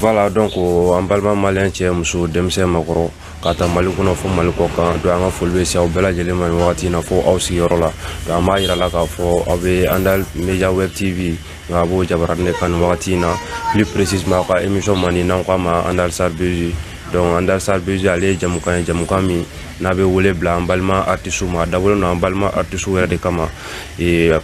voilà donc an balima maliyɛn cɛ muso denmisɛn makɔrɔ k'a ta mali kɔnɔ fo mali kɔkan donc an ka foli bɛ se aw bɛɛ lajɛlen ma nin wagati in na fo aw sigiyɔrɔ la donc an b'a yira la k'a fɔ aw bɛ andal media web tv nka a b'o jabarani de kan nin wagati in na plus précisément aw ka émission mandi n'an k'a ma andal sarbezi donc andal sarbezi ale ye jɛmukan ye jɛmukan min n'a bɛ wele bila an balima artisiw ma a dabɔlen don an balima artisiw yɛrɛ de kama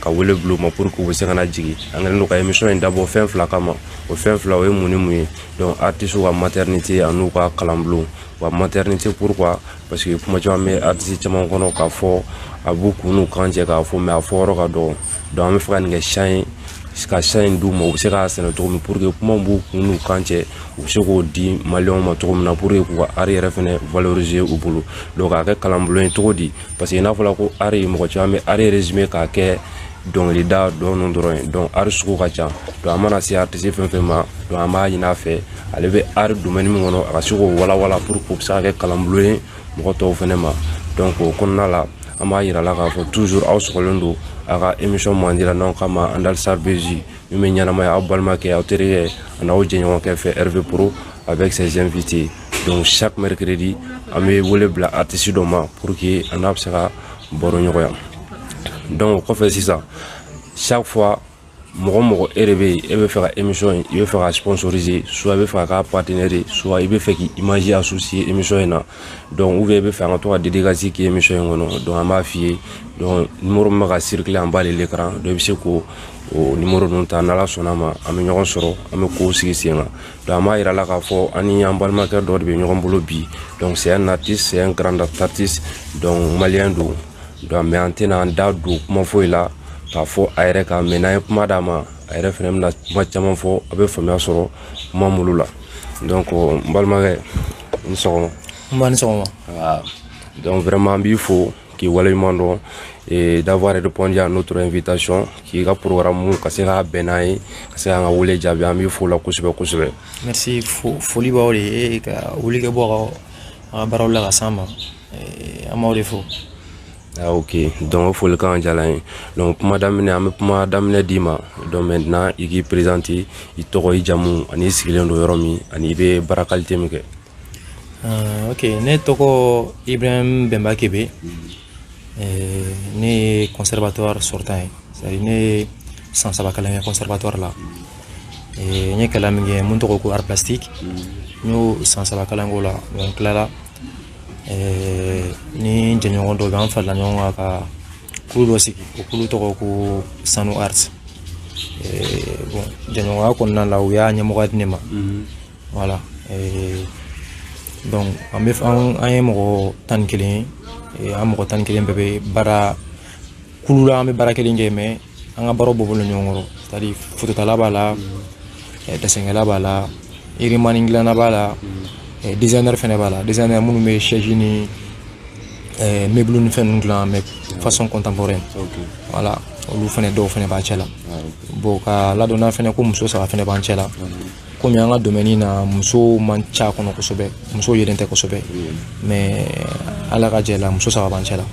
ka wele bila u ma pour que u bɛ se ka na jigin an kɛlen don ka émission in dabɔ fɛn fila kama o fɛn fila o ye mun ni mun ye donc artisiw ka maternité an'u ka kalanbulon wa maternité pourquoi parce que kuma caman bɛ artiste caman kɔnɔ k'a fɔ a b'u kun n'u kan cɛ k'a fɔ mais a fɔ yɔrɔ ka dɔgɔ donc an bɛ fɛ ka nin kɛ champ ye ka champ in d'u ma u bɛ se k'a sɛnɛ cogo min pour que kuma b'u kun n'u kan cɛ u bɛ se k'o di maliyɛnw ma cogo min na pour que k'u ka art yɛrɛ fɛnɛ valoriser u bolo donc k'a kɛ kalanbulon ye cogo di parce que n'a fɔra ko art mɔgɔ caman bɛ art résumer k'a kɛ dɔnkilida dɔn dɔrɔn ye donc art sugu ka ca donc an mana se artiste fɛn fɛn ma donc an b'a ɲini a fɛ ale bɛ art domaine min kɔnɔ a ka se k'o walawala pour que o bɛ se ka kɛ kalanbulon ye mɔgɔ tɔw fana ma donc o kɔnɔna la an b'a yira la k'a fɔ toujours aw sɔgɔlen don a ka émission mandi la n'an k'a ma andal sarbezi min bɛ ɲɛnamaya aw balimakɛ aw terikɛ ani aw jɛɲɔgɔnkɛ fɛ rv pro avec ses invités donc chaque mercredi an bɛ wele bila artiste dɔ ma pour que an n'a bɛ se ka baro ɲɔgɔnya donc o kɔfɛ sisan chaque fois mɔgɔ mɔgɔ e de bɛ yen e bɛ fɛ ka émission in i bɛ fɛ ka sponsoriser soit i bɛ fɛ ka k'a partenaire ye soit i bɛ fɛ k'i image associer émission in na donc ou bien i bɛ fɛ an ka to ka dédicace k'i émission in kɔnɔ donc an b'a f'i ye donc numéro min bɛ ka circuler en bas de l'écran donc i bɛ se k'o numéro ninnu ta n'ala sɔnn'a ma an bɛ ɲɔgɔn sɔrɔ an bɛ kow sigi sen kan donc an b'a yira la k'a fɔ an ni an balimakɛ dɔ de bɛ ɲɔgɔn bolo bi donc c'est un artiste c'est un grand artiste donc maliyɛn don donc mais an tɛna an da don kuma foyi la k'a fɔ a yɛrɛ kan mais n'an ye kuma d'a ma a yɛrɛ fana bɛna kuma caman fɔ a bɛ faamuya sɔrɔ kuma minnu la donc n balimakɛ ni sɔgɔma nba ni sɔgɔma ah, donc vraiment n b'i fo k'i waleɲuman dɔn et d'avoir répondu à notre invitation k'i ka programme ka se ka bɛn n'an ye ka se k'an ka wele jaabi an b'i fo la kosɛbɛ kosɛbɛ merci foli b'aw de ye ka wuli ka bɔ a ka baaraw la ka s'an ma eh, an b'aw de fo ah, ok donc o folikan diyala an ye donc kuma daminɛ an bɛ kuma daminɛ d'i ma donc maintenant i k'i présenter i tɔgɔ i jamu ani i sigilen don yɔrɔ min ani i bɛ baara qualité min kɛ ah, ok ne tɔgɔ ibrahim bemba kébé eh, ne ye conservatoire sortant ye c'est à dire ne ye san saba kalan kɛ conservatoire la n ye kalan min kɛ min tɔgɔ ko art plastique n y'o san saba kalan k'o la n tilala ni jɛɲɔgɔn dɔ bɛ an farala ɲɔgɔn kan ka kulu dɔ sigi o kulu tɔgɔ ko sanu art bon jɛɲɔgɔnya kɔnɔna la u y'a ɲɛmɔgɔya di ne ma voilà donc an ye mɔgɔ tan ni kelen ye an mɔgɔ tan ni kelen bɛɛ bɛ baara kulu la an bɛ baara kelen kɛ mais an ka baaraw bɔ bɔlen ɲɔgɔn kɔrɔ c'est-à-dire fototala b'a la eh, dessinkɛla b'a la yirimani dilanna b'a la eh, designer fɛnɛ b'a la designer minnu bɛ chaise ni eh, meuble ni fɛn ninnu dilan mais façon contemporaine voilà olu fɛnɛ dɔw fɛnɛ b'a cɛ la ah, bon ka ladɔnna fɛnɛ ko muso saba fɛnɛ b'an cɛ la komi an ka domaine na muso man ca kɔnɔ kosɛbɛ muso yelen tɛ kosɛbɛ mais ala ka jɛ la muso saba b'an cɛ la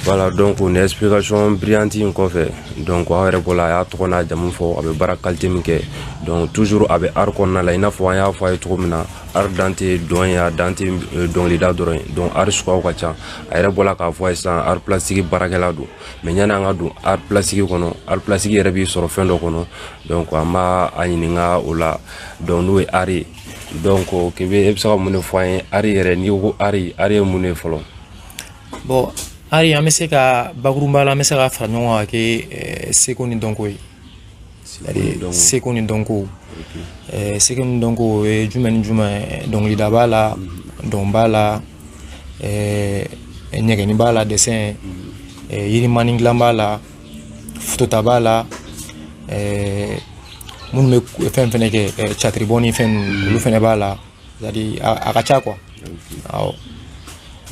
voilà donc nin explication brillante in kɔfɛ donc aw yɛrɛ bɔla a y'a tɔgɔ n'a jamu fɔ a bɛ baara qualité min kɛ donc toujours a bɛ art kɔnɔna la i n'a fɔ an y'a fɔ a ye cogo min na art dan tɛ dɔn ye a dan tɛ dɔnkilida dɔrɔn ye donc art suguyaw ka ca a yɛrɛ bɔla k'a fɔ a ye sisan art plastique baarakɛla don mais yani an ka don art plastique kɔnɔ art plastique yɛrɛ b'i sɔrɔ fɛn dɔ kɔnɔ donc an b'a a ɲininka o la donc n'o ye art ye donc kebe e bɛ se ka mun de fɔ an ye art yɛrɛ n'i ko ko art art ye mun de ye fɔlɔ bon art an bɛ se ka bakurunba la an bɛ se ka fara ɲɔgɔn kan ka kɛ seko ni dɔnko ye seko ni dɔnko seko ni dɔnko o ye jumɛn ni jumɛn ye dɔnkilida b'a la mhm. dɔn b'a la ɲɛgɛnni b'a la dessin mhm. yirimani dilan b'a la fotota b'a la minnu bɛ fɛn fɛnɛ kɛ catiribɔ ni fɛn ninnu olu fɛnɛ b'a la a ka ca quoi awɔ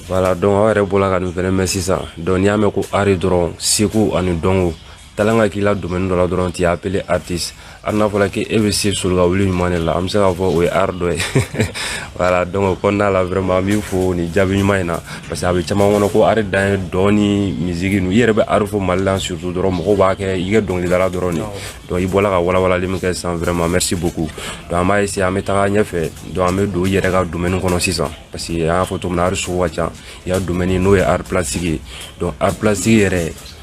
voilà donc aw yɛrɛ bɔla ka nin fɛnɛ mɛn sisan donc n'i y'a mɛn ko art dɔrɔn seko ani dɔnko talent ka k'i la domaine dɔ la dɔrɔn tu es appelé artiste hali n'a fɔra k'e bɛ se solo ka wuli ɲuman de la an bɛ se k'a fɔ o ye art dɔ ye voilà donc o kɔnɔna la vraiment an b'i fo nin jaabi ɲuman in na parce que a bɛ caman kɔnɔ ko art dan ye dɔn ni musique ninnu i yɛrɛ bɛ art fɔ mali la surtout dɔrɔn mɔgɔw b'a kɛ i kɛ dɔnkilidala dɔrɔn de donc i bɔra ka walawalali min kɛ sisan vraiment merci beaucoup donc an b'a essayer an bɛ taga ɲɛfɛ donc an bɛ don i yɛrɛ ka domaine kɔnɔ sisan parce que an y'a fɔ cogo min na art sugu ka ca i ka domaine n'o ye art plastique ye donc art plastique yɛrɛ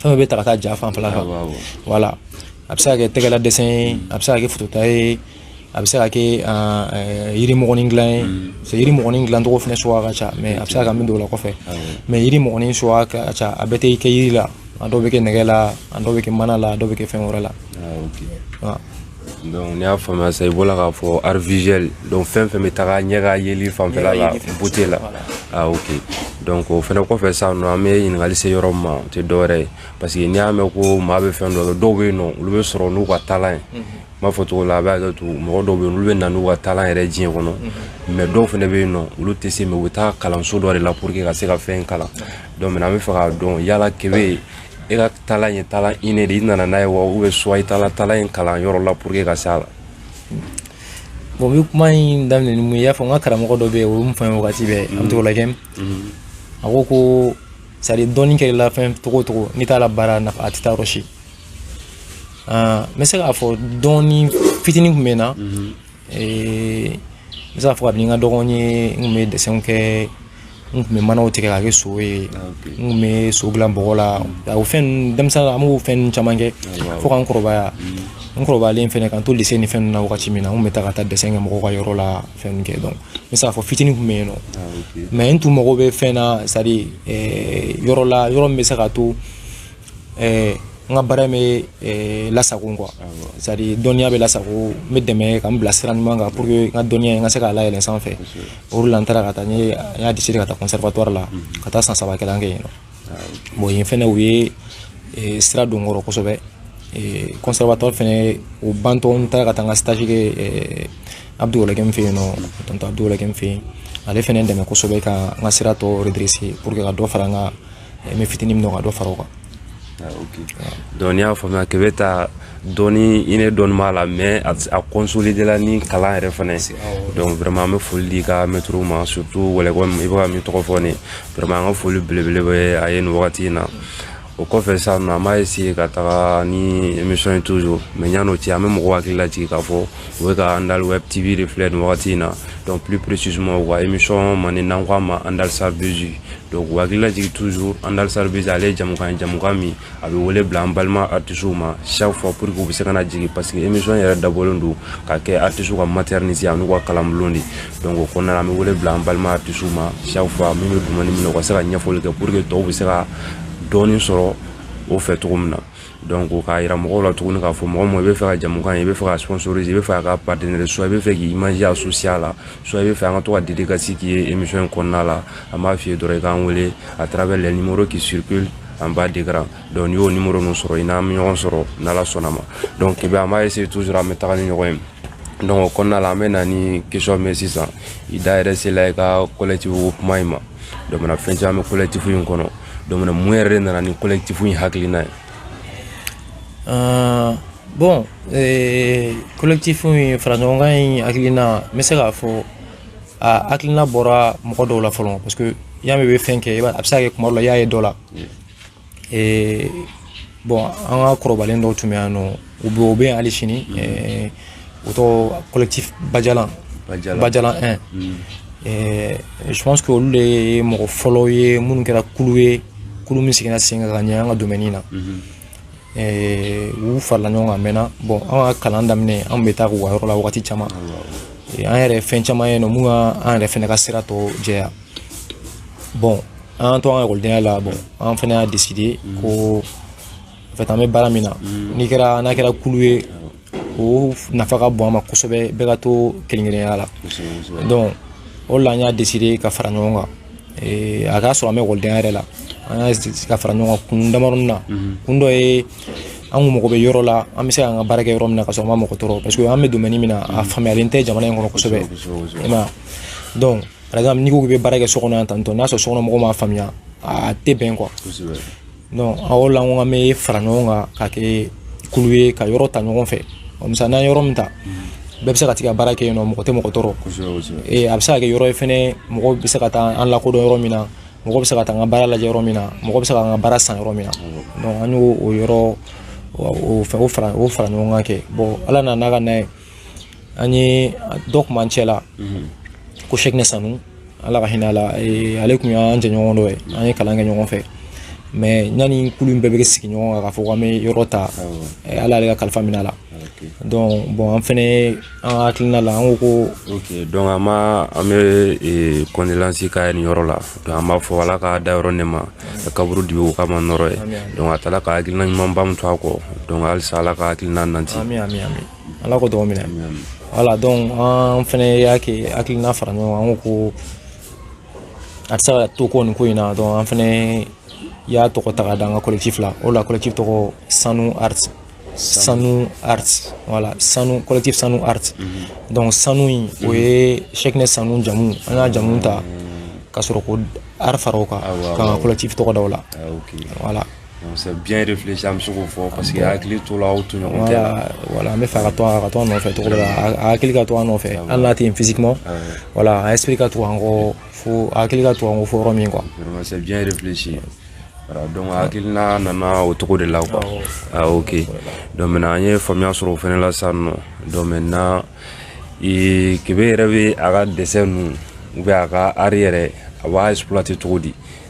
fɛn bɛ ta ka taa ja fanfɛla kan voilà a bɛ se ka kɛ tɛgɛla dessin ye a bɛ se ka kɛ fotota ye a bɛ se ka kɛ yiri mɔgɔnin dilan ye parce que yiri mɔgɔnin dilancogo fana suguya ka ca mais a bɛ se ka kɛ min don o la kɔfɛ mais yiri mɔgɔnin suguya ka ca a bɛɛ tɛ kɛ yiri la a dɔw bɛ kɛ nɛgɛ la a dɔw bɛ kɛ mana la a dɔw bɛ kɛ fɛn wɛrɛ la donc n'i y'a faamuya sisan i bɔra k'a fɔ art visuel donc fɛn fɛn bɛ taga ɲɛ ka yeli fanfɛla la beauté la ah ok donc o fɛnɛ kɔfɛ sisan nɔ an bɛ ɲininkali se yɔrɔ min ma o tɛ dɔwɛrɛ ye parce que n'i y'a mɛn ko maa bɛ fɛn dɔ kɛ dɔw bɛ yen nɔ olu bɛ sɔrɔ n'u ka talent ye n b'a fɔ cogo la a bɛ hakɛ to mɔgɔ dɔw bɛ yen olu bɛ na n'u ka talent yɛrɛ diɲɛ kɔnɔ mais dɔw fɛnɛ bɛ yen nɔ olu tɛ se mais u bɛ taa kalanso dɔ de la pour que ka se ka fɛn kalan donc an bɛ fɛ k'a dɔn yala kebe e ka talent ye talent inné de i nana n'a ye wa ou bien soit i taara talent in kalan yɔrɔ la pour que ka s'a la bon n bɛ kuma in daminɛ ni mun ye i y'a fɔ n ka karamɔgɔ dɔ bɛ yen o ye min fɔ n ye wagati bɛɛ an bɛ to la kɛ a ko ko hali don kɛra la fɛn cogo o cogo n'i t'a labaara nafa a tɛ taa yɔrɔ si n bɛ se k'a fɔ don fitinin tun bɛ n na n bɛ se k'a fɔ kabini n ka dɔgɔn ye n tun bɛ dessinw kɛ n tun bɛ manaw tigɛ k'a kɛ so ye n tun bɛ so dilan bɔgɔ la o fɛn ninnu denmisɛnnin an b'o fɛn ninnu caman kɛ fo ka n kɔrɔbaya n kɔrɔbayalen fɛnɛ k'an to lycée ni fɛn ninnu na wagati min na n tun bɛ taa ka taa dessin kɛ mɔgɔw ka yɔrɔ la fɛn ninnu kɛ donc n bɛ se k'a fɔ fitinin tun bɛ yen nɔ mais n tun mago bɛ fɛn na c'est à dire yɔrɔ la yɔrɔ min bɛ se k'a to ɛɛ n ka baara bɛ ɛɛ lasago quoi c'est à dire dɔnniya bɛ lasago n bɛ dɛmɛ ka n bila sira ɲuman kan pour que n ka dɔnniya n ka se k'a layɛlɛn sanfɛ o de la n taara ka taa n ye n y'a décidé ka taa conservatoire la ka taa san saba kalan kɛ yen nɔ bon yen fɛnɛ u ye eh, sira don n kɔrɔ kosɛbɛ eh, conservatoire fɛnɛ o bantɔ n taara ka taa n ka stage kɛ eh, abdou ouologuem fɛ yen nɔ tonton abdou ouologuem fɛ yen ale fɛnɛ dɛmɛ kosɛbɛ ka n ka sira tɔ redresser pour que ka dɔ fara n ka n bɛ fitinin min dɔn ka dɔ fara o kan ah, donc n'i y'a faamuya kebe ta don inné dɔɔni b'a la mais a consolider la ni kalan yɛrɛ fana ye donc vraiment an bɛ foli di i ka mɛtiriw ma surtout ouologuem i bɛ ka min tɔgɔ fɔ nin vraiment an ka foli belebele bɛ a ye nin wagati in na o kɔfɛ sisan nɔ an b'a essayer ka taga ni émission ye toujours mais yan'o cɛ an bɛ mɔgɔw hakili lajigin k'a fɔ u bɛ ka andal web tv de filɛ nin wagati in na donc plus précisément u ka émission mandi n'an ko a ma andal sarbuzi donc u hakili lajigin toujours andal sarbuzi ale ye jamukan ye jamukan min a bɛ wele bila an balima artisiw ma chaque fois pour que u bɛ se ka na jigin parce que émission yɛrɛ dabɔlen don ka kɛ artisiw ka maternité an'u ka kalanbulon de donc o kɔnɔna na an bɛ wele bila an balima artisiw ma chaque fois min bɛ domaine min na u ka se ka ɲɛfɔli kɛ pour que tɔw bɛ se ka dɔɔnin sɔrɔ o fɛ cogo min na Don ko k'a jira mɔgɔw la tuguni k'a fɔ mɔgɔ ma i bɛ fɛ ka jamu kan i bɛ fɛ ka sɔn suru i bɛ fɛ ka ba deli so i bɛ fɛ k'i maya su siya la so i bɛ fɛ an ka to ka deli ka sigi k'i ye emi in kɔnɔna la a b'a f'i ye dɔrɔn i k'an wele a taara bɛ laɲini k'i siriku an ba dira dɔn y'o ni muru min sɔrɔ i n'an bɛ ɲɔgɔn sɔrɔ n ala sɔnna ma dɔn k'i an b'a se tu sɔrɔ an bɛ taga ni ɲɔgɔn ye dɔn kɔnɔna la an bɛ na ni kesɔn mɛn sisan i da yɛrɛ sela i ka kɔlɛtibugu kuma in ma dɔ fɛn caman an bɛ kɔlɛtifu in kɔnɔ donc na mun yɛrɛ de nana ni collectif in hakilina ye uh, bon eh, collectif in fara ɲɔgɔnkan in hakilina n bɛ se k'a fɔ a hakilina bɔra mɔgɔ dɔw la fɔlɔ parce que y'a mɛn i bɛ fɛn kɛ a bɛ se ka kɛ kuma dɔ la i y'a ye dɔ la eh, bon an ka kɔrɔbalen dɔw tun bɛ yan n'o u bɛ u bɛ yan hali sini mm. eh, o tɔgɔ collectif bajalan bajalan 1 mm. eh, je pense que olu de ye mɔgɔ fɔlɔw ye minnu kɛra kulu ye kulu min sigira sen kan ka ɲɛ an ka domaine na mm-hmm. eh, u farala ɲɔgɔn kan mɛnna bon an ka kalan daminɛ an bɛ taa k'u ka yɔrɔ la wagati caman an yɛrɛ fɛn caman ye n'o mun ka an yɛrɛ fɛnɛ ka sira tɔ jɛya bon an to an ka ekɔlidenya la bon an fana y'a décidé mm. ko en fait an bɛ baara min na mm. n'i kɛra n'a kɛra kulu ye o nafa ka bon an ma kosɛbɛ bɛɛ ka to kelen-kelenya la donc o la an y'a décidé ka fara ɲɔgɔn kan eh, a k'a sɔrɔ an bɛ ekɔlidenya yɛrɛ la an y'a ka fara ɲɔgɔn kan kun damadɔnin na mm-hmm. kun dɔ ye an kun mago bɛ yɔrɔ la an bɛ se k'an ka baara kɛ yɔrɔ min na ka sɔrɔ an ma mɔgɔ tɔɔrɔ parce que an bɛ domaine min na a mm-hmm. faamuyalen tɛ jamana in kɔnɔ kosɛbɛ i ma donc par exemple n'i ko k'i bɛ baara kɛ so kɔnɔ yan tantôt n'a sɔrɔ sokɔnɔ mɔgɔw m'a faamuya a tɛ bɛn quoi donc a o la n ko an bɛ fara ɲɔgɔn kan ka kɛ kulu ye ka yɔrɔ ta ɲɔgɔn fɛ misali n'an ye yɔrɔ min ta mm. bɛɛ bɛ se ka t'i ka baara kɛ yen n'o mɔgɔ tɛ mɔgɔ tɔɔrɔ a bɛ se ka kɛ yɔrɔ ye fɛnɛ mɔgɔw bɛ se ka taa an lakodɔn yɔrɔ min na mɔgɔ bɛ se ka taa an ka baara lajɛ yɔrɔ min na mɔgɔ bɛ se ka an ka baara san yɔrɔ min na donc an y'o o yɔrɔ o fɛn o fara o fara ɲɔgɔn kan kɛ bon ala nana n'a ka na ye an ye dɔ kun b'an cɛla ko sɛkinɛ sanu ala ka hinɛ a la eh, ale tun y'an jɛɲɔgɔn dɔ ye an ye kalan kɛ ɲɔgɔn fɛ mais ɲani kulu in bɛɛ bɛ sigi ɲɔgɔn kan k'a fɔ k'an bɛ yɔrɔ ta eh, ala ale ka kalifa minɛ a la donc bon an fɛnɛ an ka hakilina la an ko ko ok donc an ma an bɛ eh, condoléance k'a ye nin yɔrɔ la donc an b'a fɔ ala k'a dayɔrɔ nɛɛma ka kaburu dibi o k'a ma nɔɔrɔ ye donc a taara ka hakilina ɲumanba min to a kɔ donc halisa ala ka hakilina nanti ami ami ami ala k'o dugaw minɛ voilà donc an fɛnɛ y'a kɛ hakilina fara ɲɔgɔn kan an ko ko a tɛ se ka to ko nin ko in na donc an fɛnɛ y'a tɔgɔ ta ka da an ka collectif la o la collectif tɔgɔ sanu art sanu art voilà sanu collectif sanu art mhm. donc sanu in o ye sɛkinɛ mhm. sanu jamu an y'a jamu ta ka sɔrɔ ko art fara o kan ah, ka an ka collectif tɔgɔ da o la ah, voilà C'est bien réfléchi an bɛ se k'o fɔ parce que hakili to la aw tɔɲɔgɔn cɛ la voilà voilà an b'a fɛ ka to a ka to a nɔfɛ cogo dɔ la a a hakili ka to a nɔfɛ hali n'a tɛ yen physiquement voilà a esprit ka to an kɔ fo a hakili ka to an kɔ fo yɔrɔ min quoi vraiment c'est bien réfléchi voilà donc a hakilina nana o cogo de la quoi ah ok donc maintenant an ye faamuya sɔrɔ o fɛnɛ la sisan nɔ donc maintenant ee kebe yɛrɛ bɛ a ka dessin ninnu ou bien a ka art yɛrɛ a b'a exploiter cogo di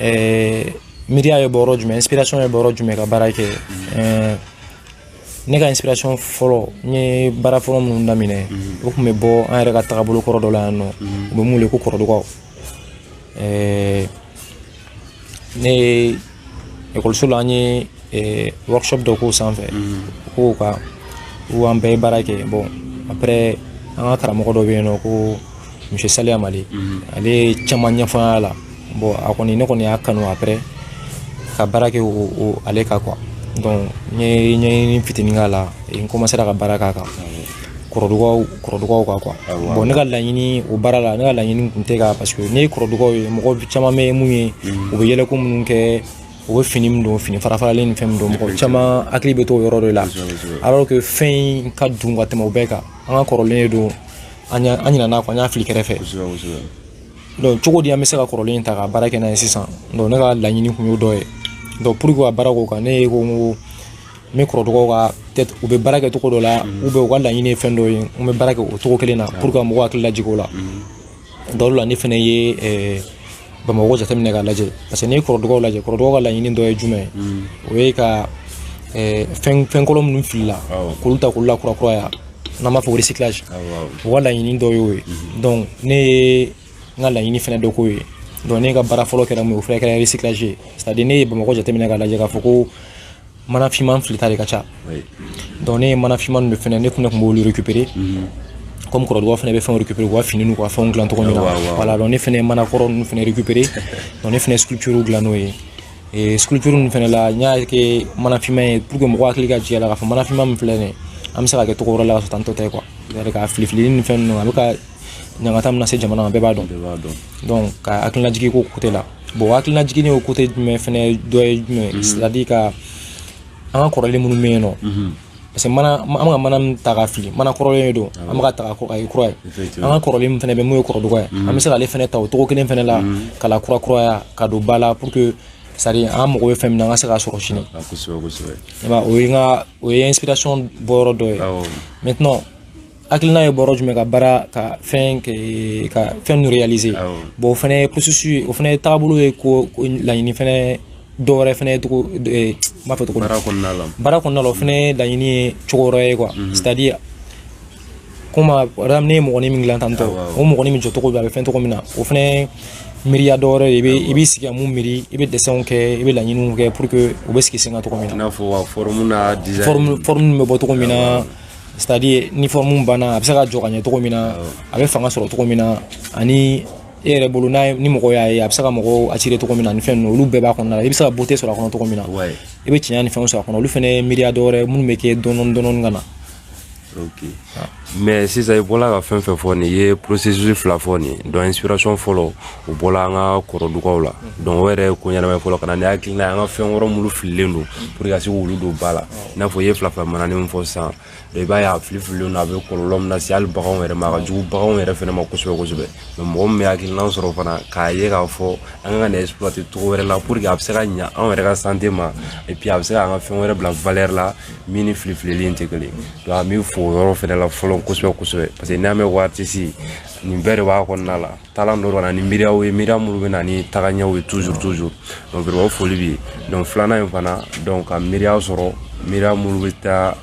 ɛɛ miiriya ye bɔ yɔrɔ jumɛn inspiration ye bɔ yɔrɔ jumɛn ka baara kɛ ɛɛ ne ka inspiration fɔlɔ n ye baara fɔlɔ minnu daminɛ o tun bɛ bɔ an yɛrɛ ka tagabolo kɔrɔ dɔ la yan nɔ u bɛ mun wele ko kɔrɔdugaw ɛɛ ne ye ekɔliso la an ye ɛɛ workshop dɔ k'o sanfɛ k'o kan ko an bɛɛ ye baara kɛ bon après an ka karamɔgɔ dɔ bɛ yen nɔ ko monsieur salia malé ale ye caman ɲɛfɔ an y'a la bon a kɔni ne kɔni y'a kanu après ka baara kɛ ale kan quoi donc n ye ɲɛɲini fitinin k'a la n commencera ka baara k'a kan kɔrɔdugaw kɔrɔdugaw kan quoi bon ne ka laɲini o baara la ne ka laɲini tun tɛ ka parce que ne ye kɔrɔdugaw ye mɔgɔ caman bɛ mun ye u bɛ yɛlɛko minnu kɛ u bɛ fini min don fini farafaralen ni fɛn min don mɔgɔ caman hakili bɛ to o yɔrɔ de la alors que fɛn in ka dun ka tɛmɛ o bɛɛ kan an ka kɔrɔlen de don an ɲinana a kɔ an y'a fili kɛrɛfɛ donc cogo di an bɛ se ka kɔrɔlen in ta ka baara kɛ n'a ye sisan donc ne ka laɲini tun y'o dɔ ye donc pour que ka baara k'o kan ne ye ko n ko n bɛ kɔrɔdugaw ka peut-être u bɛ baara kɛ cogo dɔ la mm. ou bien u ka laɲini ye fɛn dɔ ye n bɛ baara kɛ o cogo kelen na ah. pour que ka mɔgɔw hakili lajigin o la mm. donc o de la ne fana ye eh, bamakɔ jateminɛ k'a lajɛ parce que n'i ye kɔrɔdugaw lajɛ kɔrɔdugaw ka laɲini dɔ ye jumɛn ye mm. o ye ka eh, fɛn fɛn kolon minnu filila k'olu ta k'olu lakurakuraya n'an b'a fɔ ko recyclage u ka laɲini dɔ y'o ye donc ne ye n ka laɲini fɛnɛ dɔ k'o ye donc ne ka baara fɔlɔ kɛra mun ye o fɛnɛ kɛra recyclage ye c'est à dire ne ye bamakɔ jateminɛ k'a lajɛ k'a fɔ ko mana finman filita de ka ca donc ne ye mana finman ninnu fɛnɛ ne tun ne tun b'olu récupérer comme kɔrɔdugaw fɛnɛ bɛ fɛnw récupérer u ka fini n'u ka fɛnw dilan cogo min na voilà donc ne fɛnɛ ye mana kɔrɔ ninnu fɛnɛ récupérer donc ne fɛnɛ ye sculpture dilan n'o ye ee sculpture ninnu fɛnɛ la n y'a kɛ mana finman ye pour que mɔgɔ hakili ka jigin a la k'a fɔ mana finman min filɛ nin ye an bɛ se k'a kɛ cogo wɛrɛ la ka sɔrɔ tantɔ tɛ quoi c'est-à-dire k'a filifili ni fɛn ninnu a bɛ ka ɲangata min lase jamana ma bɛɛ b'a dɔn donc ka hakilinajigi k'o côté la bon hakilinajigini o côté jumɛn fɛnɛ dɔ ye jumɛn c'est-à-dire ka an ka kɔrɔlen minnu bɛ yen nɔ parce que an bɛ ka mana min ta ka fili mana kɔrɔlen de don ah an bɛ ka ta k'a kɛ kura ye an ka kɔrɔlen min fana bɛ mun ye kɔrɔduga ye mm. an bɛ se k'ale fana ta o cogo kelen fana la mm. k'a lakurakuraya k'a don ba la pour que c'est-à-dire an mago bɛ fɛn min na an ka se k'a sɔrɔ sini ah, kosɛbɛ kosɛbɛ o ye n ka o ye inspiration bɔyɔrɔ dɔ ye maintenant hakilina ye bɔ yɔrɔ jumɛn ka baara ka fɛn ka fɛn ninnu réaliser bon o fana ye processus o fana ye taabolo ye ko laɲini fana dɔ wɛrɛ fana ye cogo n b'a fɔ cogo baara kɔnɔna la o fana ye laɲini ye cogo wɛrɛ ye quoi c'est à dire komi a ne ye mɔgɔni min dilan tan tɔ o mɔgɔni min jɔcogo bɛ a bɛ fɛn cogo min na o fana miiriya dɔ wɛrɛ i bɛ i b'i sigi ka mun miiri i bɛ dessinw kɛ i bɛ laɲiniw kɛ pour que u bɛ sigi sen kan cogo min na i n'a fɔ forme n'a design forme forme bɛ bɔ cogo min na c'est à dire ni forme banna a bɛ se ka jɔ ka ɲɛ cogo min na a bɛ fanga sɔrɔ cogo min na ani e yɛrɛ bolo n'a ni mɔgɔ y'a ye a bɛ se ka mɔgɔw attirer cogo min na ni fɛn ninnu olu bɛɛ b'a kɔnɔna la i bɛ se ka beauté sɔrɔ a kɔnɔ cogo min na i bɛ tiɲɛ ni fɛnw sɔrɔ a kɔnɔ olu fana ye miiriya dɔ wɛrɛ minnu bɛ kɛ dɔɔnin dɔɔnin ka na ok mais sisan i bɔla ka fɛn fɛn fɔ nin i ye processus fila fɔ nin donc inspiration fɔlɔ u bɔla an ka kɔrɔdugaw la donc o yɛrɛ ye ko ɲɛnama ye fɔlɔ ka na ni hakilina ye an ka fɛn wɛrɛ minnu fililen don pour que ka se k'olu don ba la i n'a fɔ i ye filafila manani min fɔ sisan i b'a ye a fili fililen don a bɛ kɔlɔlɔ min lase hali baganw yɛrɛ ma a ka jugu baganw yɛrɛ fana ma kosɛbɛ kosɛbɛ mais mɔgɔ min bɛ hakilina sɔrɔ fana k'a ye k'a fɔ an ka kan ka nin exploiter cogo wɛrɛ la pour que a bɛ se ka ɲa anw yɛrɛ ka santé ma et puis a bɛ se ka an ka fɛn wɛrɛ bila valeur la min ni fili filili in tɛ kelen donc an bɛ fo o yɔrɔ fana la fɔlɔ kosɛbɛ kosɛbɛ parce que n'an bɛ ko artiste nin bɛɛ de b'a kɔnɔna la talent don ka na ni miiriyaw ye miiriya minnu bɛ na ni tagaɲɛw ye toujours toujours donc vraiment foli bɛ yen donc filanan in fana donc ka miiriya sɔrɔ miiriya minnu bɛ taa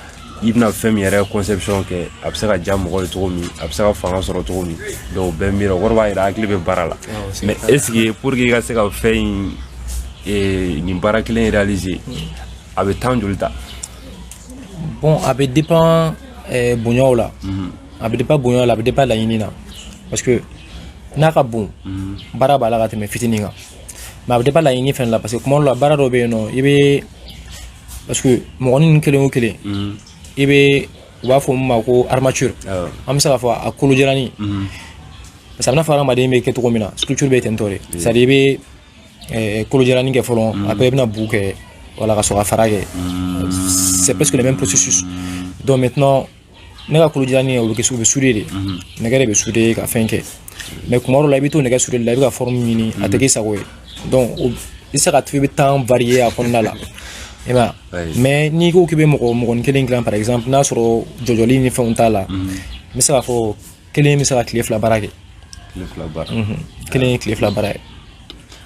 i bɛna fɛn min yɛrɛ conception kɛ a bɛ se ka diya mɔgɔ ye cogo min a bɛ se ka fanga sɔrɔ cogo min donc n bɛ miiri o kɔrɔ b'a jira hakili bɛ baara la mais est ce que pour que i ka se ka fɛn in eh, nin baara kelen réaliser a bɛ temps joli ta bon a bɛ dépend eh, bonyaw la. Mm -hmm. a bɛ dépend bonya la a bɛ dépend laɲini na parce que n'a ka bon mhm. baara b'a la ka tɛmɛ fitinin kan mais a bɛ dépend laɲini fana la parce que kuma dɔ la baara dɔ bɛ yen nɔ i bɛ parce que mɔgɔnin kelen o kelen mhm. i bɛ u b'a fɔ min ma ko armature an bɛ se k'a fɔ a kolo jalanin mhm. parce que a b'i n'a fɔ hadamaden bɛ kɛ cogo min na structure bɛ ten tɔ de c'est à dire i bɛ eh, kolo jalanin kɛ fɔlɔ après i bɛna bu kɛ a la ka sɔrɔ ka fara kɛ c'est presque le même processus donc maintenant ne ka kolo jalanin o bɛ kɛ o bɛ souder de nɛgɛ de bɛ souder ka fɛn kɛ mais kuma dɔ la i bɛ to nɛgɛ souder la i bɛ ka forme ɲini a tɛ k'i sago ye donc i bɛ se ka to i bɛ temps varier a kɔnɔna la mhm. mais n'i ko k'i bɛ mɔgɔ mɔgɔnin kelen dilan par exemple n'a sɔrɔ jɔjɔli ni fɛnw t'a la n bɛ se k'a fɔ kelen bɛ se ka tile fila baara kɛ tile fila baara mhm. kelen ye tile fila baara ye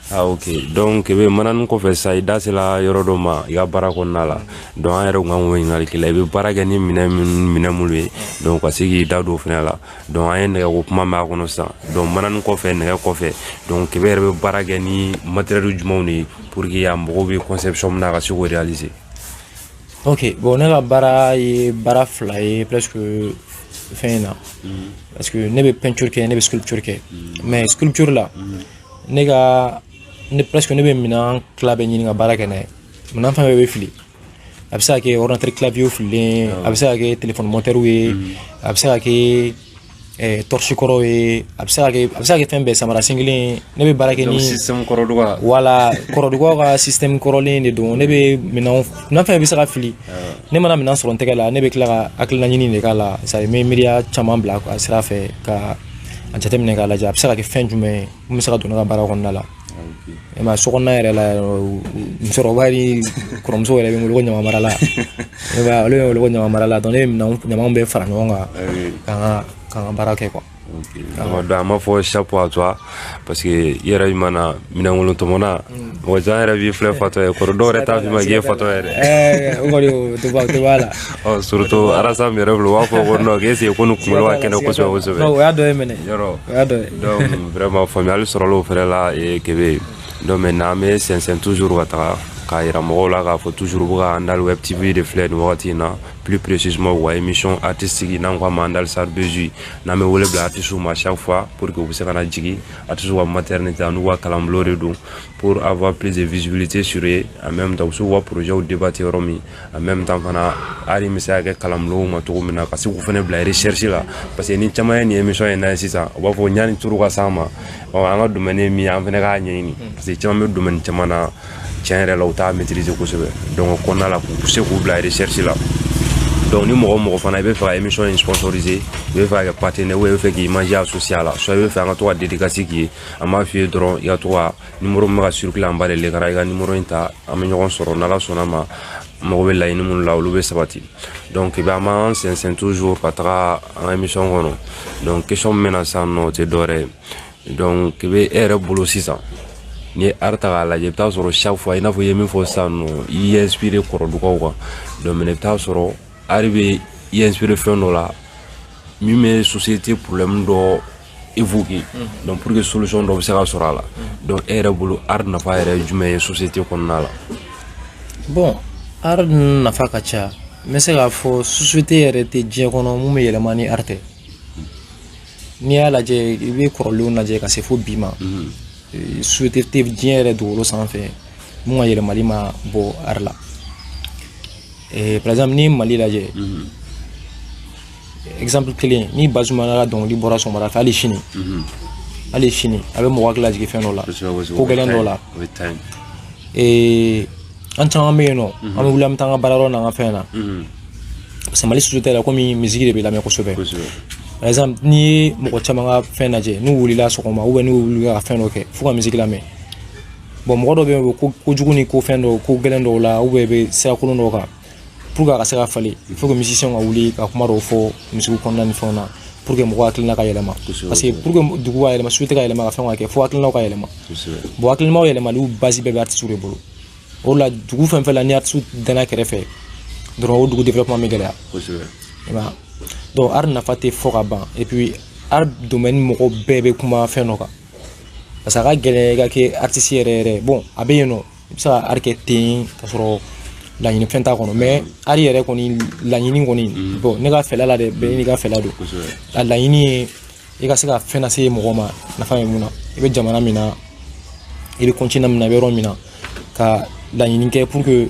Ah, ok donc kebe manani kɔfɛ sa i da sela yɔrɔ dɔ ma i ka baara kɔnɔna la donc an yɛrɛ kun kan k'o ɲininkali k'i la i bɛ baara kɛ ni minɛn minɛn minnu ye donc ka se k'i da don o fana la donc an ye nɛgɛko kuma mɛn a kɔnɔ sisan donc manani kɔfɛ nɛgɛ kɔfɛ donc kebe yɛrɛ bɛ baara kɛ ni matériel jumɛnw de ye pour que a mago bɛ conception min na a ka se k'o réaliser ok bon ne ka baara ye baara fila ye presque fɛn in na mm. parce que ne bɛ peinture kɛ ne bɛ sculpture kɛ mm. mais sculpture la mm. ne ka ne presque ne bɛ minɛn tila bɛɛ ɲini ka baara kɛ n'a ye minɛn fɛn fɛn bɛ fili a bɛ se ka kɛ ordinateur clavier fililen a bɛ se ka kɛ téléphone motɛriw ye a bɛ se ka kɛ ɛɛ tɔrisi kɔrɔ ye a bɛ se ka kɛ a bɛ se ka kɛ fɛn bɛɛ samara sen kelen ne bɛ baara kɛ ni système kɔrɔduga wala kɔrɔdugaw ka système kɔrɔlen de don ne bɛ minɛnw minɛn fɛn bɛ se ka fili ne mana minɛn sɔrɔ n tɛgɛ la ne bɛ tila ka hakilina ɲini de k'a la c'est à dire n bɛ miiriya caman bila a sira fɛ ka a jateminɛ k'a lajɛ a bɛ se ka kɛ fɛn jumɛn ye min bɛ se ka don ne ka baara kɔnɔna la e mais so kɔnɔna yɛrɛ la musokɔrɔba ni kɔrɔmuso yɛrɛ bɛ n wele ko ɲaman marala e b'a olu bɛ n wele ko ɲaman marala donc ne bɛ ɲamanw bɛɛ fara ɲɔgɔn kan k'an ka k'an ka baara kɛ quoi awɔ donc an b'a fɔ chapeau à toi parce que i yɛrɛ i mana minɛnkolon tɔmɔna mɔgɔ caman yɛrɛ b'i filɛ fatɔ ye kɔrɔ dɔw yɛrɛ t'a f'i ma k'i ye fatɔ yɛrɛ o kɔni o tɛ bɔ a la ɔ surtout rasta min yɛrɛ filɛ u b'a fɔ ko non est ce que ko nin kunkolo ka kɛnɛ kosɛbɛ kosɛbɛ donc o y'a dɔ ye mɛnɛ yɔrɔ o y'a dɔ ye donc vraiment faamuyali sɔrɔla o fɛnɛ la ee, kebe donc maintenant an bɛ sɛnsɛn toujours ka taga k'a yira mɔgɔw la k'a fɔ toujours aw bɛ ka andal web tv de filɛ nin wagati in na plus précisément u ka émission artistique n'an ko a ma andal sar bezu n'an bɛ wele bila artistes ma chaque fois pour que u bɛ se ka na jigin artistes ka maternité an'u ka kalanbulon de don pour avoir plus de visibilité sur eux en même temps u bɛ se k'u ka projets débattre yɔrɔ min en même temps fana art bɛ se ka kɛ kalanbulonw ma cogo min na ka se k'u fana bila recherche la parce que ni caman ye nin émission in lajɛ sisan u b'a fɔ yanni tour ka s'an ma ɔ an ka domaine ye min ye an fana k'a ɲɛɲini parce que caman bɛ domaine caman na tiɲɛ yɛrɛ la u t'a maîtriser kosɛbɛ donc o kɔnɔna la k'u se k'u bila recherche la donc ni mɔgɔ mɔgɔ fana i bɛ fɛ ka émission in sponsoriser i bɛ fɛ ka kɛ partenaire ou bien i bɛ fɛ k'i image associer a la soit i bɛ fɛ an ka to ka dédicace k'i ye an b'a f'i ye dɔrɔn i ka to ka numéro min bɛ ka circuler en bas de l'écran i ka numéro in ta an bɛ ɲɔgɔn sɔrɔ n'ala sɔnna ma mago bɛ laɲini minnu la olu bɛ sabati donc i bɛ an b'an sɛnsɛn toujours ka taga an ka émission kɔnɔ donc question min bɛ na sisan nɔ o tɛ dɔwɛrɛ ye donc i bɛ e yɛrɛ bolo sisan n'i ye art ta k'a lajɛ i bɛ taa sɔrɔ chaque fois i n'a fɔ i ye min fɔ sisan nɔ i y'i inspiré kɔrɔdugaw kan donc mais i bɛ taa sɔrɔ art bɛ i inspiré fɛn dɔ la min bɛ société problème dɔ évoquer donc pour que solution dɔ bɛ se ka sɔrɔ a la donc e yɛrɛ bolo art nafa yɛrɛ ye jumɛn ye société kɔnɔna la bon art nafa ka ca n bɛ se k'a fɔ société yɛrɛ tɛ diɲɛ kɔnɔ mun bɛ yɛlɛma ni art tɛ n'i y'a lajɛ i bɛ kɔrɔlenw lajɛ ka se fo bi ma société tɛ diɲɛ yɛrɛ dugukolo sanfɛ mun ka yɛlɛmali ma bɔ art la par exemple n'i ye mali lajɛ exemple kelen ni bazumana ka dɔnkili bɔra sɔgɔmada fɛ hali sini mhm. hali sini a bɛ mɔgɔ hakili lajigin fɛn dɔ la ko gɛlɛn dɔ la an caman bɛ yen nɔ mhm. an bɛ wuli an bɛ taa an ka baara yɔrɔ n'an ka fɛn na mhm. parce que mali société la komi misiki de bɛ lamɛn kosɛbɛ par exemple n'i ye mɔgɔ caman ka fɛn lajɛ n'u wulila sɔgɔma ou bien n'u wulila ka fɛn dɔ kɛ fo ka misiki lamɛn bon mɔgɔ dɔ bɛ yen o bɛ ko jugu ni ko fɛn dɔw ko gɛlɛn dɔw la ou bien i bɛ sirakolon dɔw kan pour que a ka se ka falen il faut que musicien ka wuli ka kuma dɔw fɔ musique kɔnɔna ni fɛnw na pour que mɔgɔ hakilina ka yɛlɛma parce que pour que dugu ka yɛlɛma société ka yɛlɛma ka fɛn ka kɛ fo hakilinaw ka yɛlɛma bon hakilinaw yɛlɛmali base bɛɛ bɛ artiste de bolo o la dugu fɛn fɛn la ni artiste danna kɛrɛfɛ dɔrɔn o dugu développement bɛ gɛlɛya i m'a donc art nafa tɛ fɔ ka ban et puis art domaine mɔgɔ bɛɛ bɛ kuma fɛn dɔ kan parce que a ka gɛlɛn i ka kɛ artiste yɛrɛ yɛrɛ bon a bɛ yen nɔ i bɛ se ka art kɛ ten ka sɔrɔ laɲini fɛn t'a kɔnɔ mais art yɛrɛ kɔni laɲini kɔni mm. bon ne ka fɛla la dɛ bɛɛ n'i ka fɛla don a laɲini ye i ka se ka fɛn lase mɔgɔ ma nafa bɛ mun na i bɛ jamana min na i bɛ continent min na i bɛ yɔrɔ min na ka laɲini kɛ pour que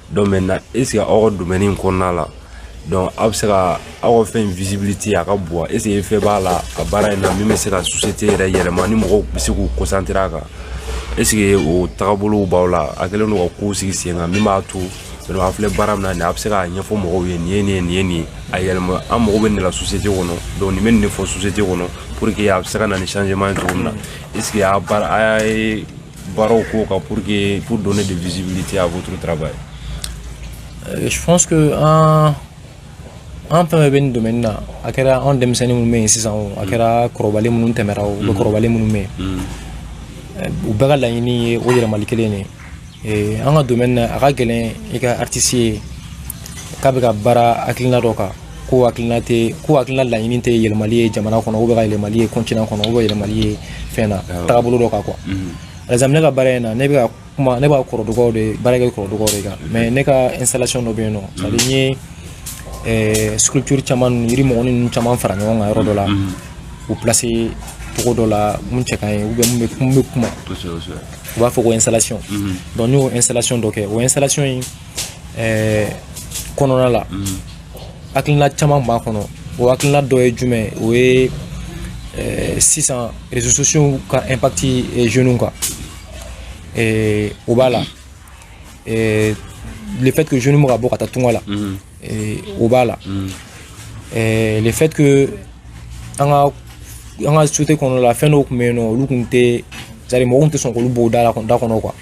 donc maintenant est ce que aw ka domaine in kɔnɔna la donc aw bɛ se ka aw ka fɛn in visibilité a ka bon wa est ce que fɛn b'a la a baara in na min bɛ se ka société yɛrɛ yɛlɛma ni mɔgɔw bɛ se k'u concentrer a kan est ce que o tagabolow b'aw la a kɛlen don ka kow sigi sen kan min b'a to donc a filɛ baara min na nin a bɛ se k'a ɲɛfɔ mɔgɔw ye nin ye nin ye nin ye nin ye a yɛlɛma an mago bɛ nin de la société kɔnɔ donc nin bɛ nin de fɔ société kɔnɔ pour que a bɛ se ka na ni changement ye cogo min na est ce que a baara a ye baaraw k'o kan pour donner de visibilité à votre travail. Euh, je pense que an an fɛn bɛɛ bɛ nin domaine na a kɛra anw denmisɛnnin minnu bɛ yen sisan o a kɛra kɔrɔbalen minnu tɛmɛra ou bien kɔrɔbalen minnu bɛ yen u bɛɛ ka laɲini ye o yɛlɛmali kelen de ye an ka domaine na a ka gɛlɛn i ka artiste ye k'a bɛ ka baara hakilina dɔ kan ko hakilina tɛ ko hakilina laɲini tɛ yɛlɛmali ye jamana kɔnɔ ou bien ka yɛlɛmali ye continent kɔnɔ ou bien yɛlɛmali ye fɛn na tagabolo dɔ kan quoi par exemple ne ka baara in na ne bɛ ka kuma ne b'a kɔrɔdugaw de baara kɛ kɔrɔdugaw de kan mais ne ka installation dɔ bɛ yen nɔ c'est à dire n ye eh, sculpture caman ninnu yiri mɔgɔni ninnu caman fara ɲɔgɔn kan yɔrɔ dɔ la u placer cogo dɔ la mun cɛ ka ɲi ou bien mun bɛ mun bɛ kuma u b'a fɔ ko installation donc n y'o installation dɔ kɛ o installation in ɛɛ kɔnɔna la hakilina caman b'a kɔnɔ o hakilina dɔ ye jumɛn ye o ye ɛɛ sisan réseaux sociaux ka impact jeunes kan ɛɛ o b'a la ɛɛ le fait que jeunes bɛ ka bɔ ka taa tunga la ɛɛ o b'a la ɛɛ le fait que an ka an ka société kɔnɔna la fɛn dɔw tun bɛ yen nɔ olu tun tɛ c'est à dire mɔgɔw tun tɛ sɔn k'olu bɔ u da la da kɔnɔ quoi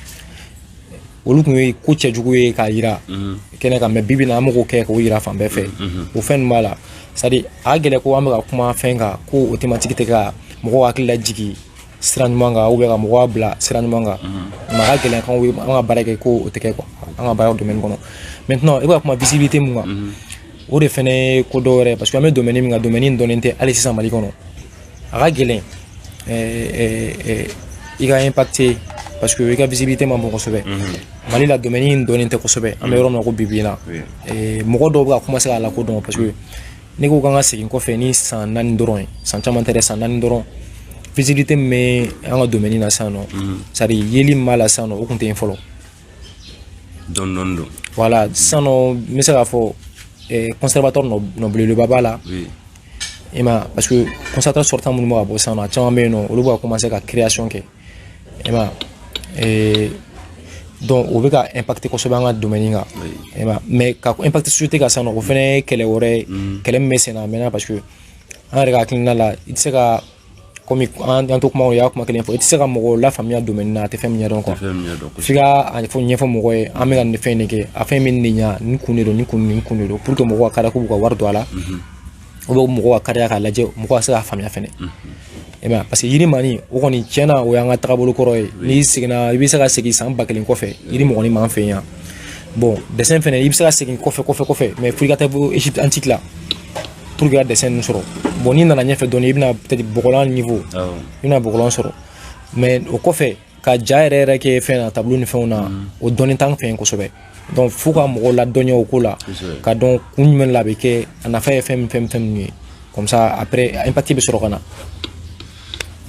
olu tun ye ko cɛjugu ye k'a yira mhm. kɛnɛ kan mais bi bi in na an b'o kɛ k'o yira fan bɛɛ fɛ mhm, mhm. o fɛn ninnu b'a la c'est à dire a ka gɛlɛn ko an bɛ ka kuma fɛn kan ko o thématique tɛ ka mɔgɔw hakili lajigi sira ɲuman kan ou bien ka mɔgɔw bila sira ɲuman kan mais a ka gɛlɛn k'an ka baara kɛ ko o tɛ kɛ quoi an ka baara domaine kɔnɔ maintenant i bɛ ka kuma visibilité mun kan o de fɛnɛ ye ko dɔ wɛrɛ ye parce que an bɛ domaine min kan domaine in dɔnnen tɛ hali sisan mali kɔnɔ a ka gɛlɛn i ka impacter parce que i ka visibilité man bon kosɛbɛ mali la domaine in dɔnnen tɛ kosɛbɛ an bɛ yɔrɔ min na ko bi bi in na mɔgɔ dɔw bɛ ka commencer k'a lakodɔn parce que ne ko k'an ka segin kɔfɛ ni san naani dɔrɔn ye san caman tɛ dɛ san naani dɔrɔn visibilité min bɛ an ka domaine na sisan nɔ c'est à dire yeli min b'a la sisan nɔ o tun tɛ yen fɔlɔ dɔɔni dɔɔni don voilà sisan nɔ n bɛ se k'a fɔ eh, conservatoire nɔ belebeleba b'a la i ma parce que conservatoire sortant minnu bɛ ka bɔ sisan nɔ a caman bɛ yen nɔ olu bɛ ka commencer ka création kɛ i ma eh, donc o bɛ ka impacter kosɛbɛ an ka domaine kan i ma mais ka impacter société kan sisan nɔ o fana ye kɛlɛ wɛrɛ ye mm. kɛlɛ min bɛ sen na a mɛnna parce que an yɛrɛ ka hakilina la i tɛ se ka komi an to kuma o y'a kuma kelen fɔ i tɛ se ka mɔgɔw lafaamuya domaine na a tɛ fɛn min ɲɛdɔn f'i k'a ɲɛfɔ mɔgɔ ye an bɛ ka nin fɛn de kɛ a fɛn bɛ nin ɲa nin kun de don nin kun nin kun de don pour que mɔgɔw ka kariya k'u ka wari don a la o bɛ mɔgɔw ka kariya k'a lajɛ mɔgɔ ka se k'a faamuya fɛnɛ i m'a ye parce que yirimaanin o kɔni tiɲɛ na o y'an ka tagabolo kɔrɔ ye n'i seginna i bɛ se ka segin san ba kelen kɔfɛ yirimɔgɔnin b'an fɛ yan bon dessin fɛnɛ i bɛ se ka segin kɔfɛ kɔfɛ kɔfɛ mais fo i ka taa fo égypte antique la pour que ka dessin ninnu sɔrɔ bon n'i nana ɲɛfɛ dɔɔni i bɛna peut-être bɔgɔlan niveau i bɛna bɔgɔlan sɔrɔ mais o kɔfɛ ka ja yɛrɛ yɛrɛ kɛ fɛn na tableau ni fɛnw na o dɔnnen t'an fɛ yen kosɛbɛ donc fo ka mɔgɔw ladɔnniya o ko la k'a dɔn kun jumɛn la a bɛ kɛ a nafa ye fɛn min fɛn min fɛn min ye comme ça après impact bɛ sɔrɔ ka na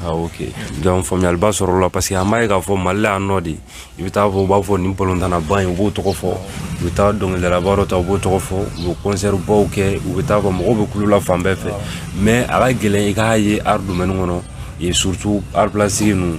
Ah, ok donc faamuyaliba sɔrɔla parce que an b'a ye k'a fɔ mali la yan nɔ de i bɛ taa fɔ u b'a fɔ nin balontannaba in u b'o tɔgɔ fɔ u bɛ taa dɔnkilidalaba dɔ ta u b'o tɔgɔ fɔ u bɛ concert baw kɛ u bɛ taa fɔ mɔgɔw bɛ kulo la fan bɛɛ fɛ mais a ka gɛlɛn i k'a ye art domaine kɔnɔ surtout art plastique ninnu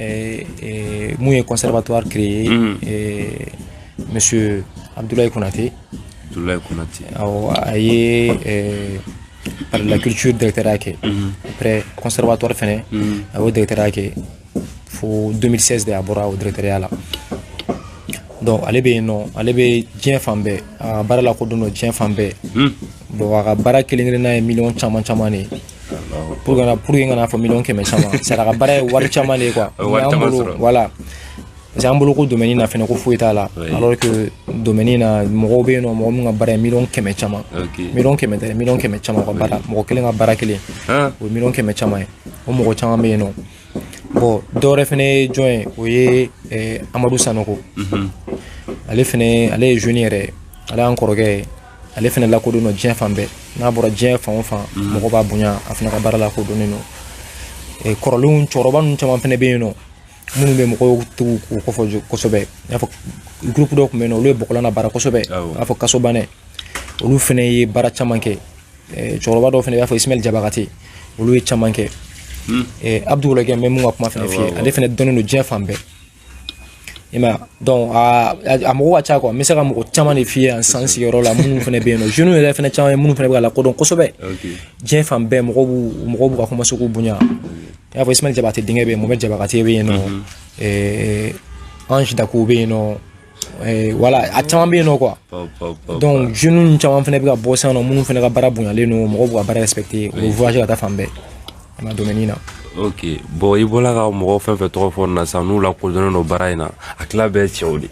Eh, eh, mun ye conservatoire créé mm. eh, monsieur Abdoulaye Konaté Abdoulaye Konaté awɔ a ye palais de la culture directeurya kɛ mm-hmm. après conservatoire fɛnɛ mm-hmm. a y'o directeurya kɛ fo 2016 de a bɔra o directeurya la donc ale bɛ yen nɔ ale bɛ diɲɛ fan bɛɛ a ka baara lakodɔnnen don diɲɛ fan bɛɛ mm. bon a ka baara kelen kelenna ye miliyɔn caman caman de ye pour kana pour que kana fɔ miliyɔn kɛmɛ caman c'est à dire a ka baara ye wari caman de ye quoi voilà parce que an bolo ko domaine na fɛnɛ ko foyi t'a la alors que domaine na mɔgɔw bɛ yen nɔ mɔgɔ min ka baara ye miliyɔn kɛmɛ caman miliyɔn kɛmɛ tɛ miliyɔn kɛmɛ caman ka baara mɔgɔ kelen ka baara kelen o ye miliyɔn kɛmɛ caman ye o mɔgɔ caman bɛ yen nɔ bon dɔwɛrɛ fɛnɛ ye jɔn ye o ye Amadou Sanogo ale fɛnɛ ale ye jeune yɛrɛ ale y'an kɔrɔkɛ ye ale fana lakodɔnnen don diɲɛ fan bɛɛ n'a bɔra diɲɛ fan o fan mhm. mɔgɔ b'a bonya a fana ka baara lakodɔnnen don e, kɔrɔlenw cɛkɔrɔba ninnu caman fana bɛ yen nɔ minnu bɛ mɔgɔw tun b'u kofɔ kosɛbɛ i n'a fɔ gurupu dɔ tun bɛ yen nɔ olu ye bɔgɔlan nabaara kosɛbɛ i n'a fɔ kasobanɛ olu fana ye baara caman kɛ e, cɛkɔrɔba dɔw fana i b'a fɔ ismail jabakate olu ye caman kɛ hmm. e, abdu wologɛm n bɛ min ka kuma fana f'i ye ale fana dɔnnen don diɲɛ fan bɛɛ i ma donc a a mɔgɔ ka ca quoi n bɛ se ka mɔgɔ caman de f'i ye yan an sigiyɔrɔ la minnu fana bɛ yen nɔ jeunes yɛrɛ fana caman ye minnu fana bɛ ka lakodɔn kosɛbɛ diɲɛ fan bɛɛ mɔgɔw b'u mɔgɔw bɛ ka commencer k'u bonya i n'a fɔ Ismail Jabakate denkɛ bɛ yen Mohamed Jabakate bɛ yen nɔ Ange Dakouo bɛ yen nɔ Eh, voilà a caman bɛ yen nɔ quoi donc jeunes caman fana bɛ ka bɔ sisan nɔ minnu fana ka baara bonyalen don mɔgɔw b'u ka baara respecter u bɛ voyager ka taa fan bɛɛ an ka domaine na. ok bon i bɔla ka mɔgɔ fɛn fɛn tɔgɔ fɔ nin na sisan n'u lakodɔnnen don baara in na a tila bɛɛ cɛw de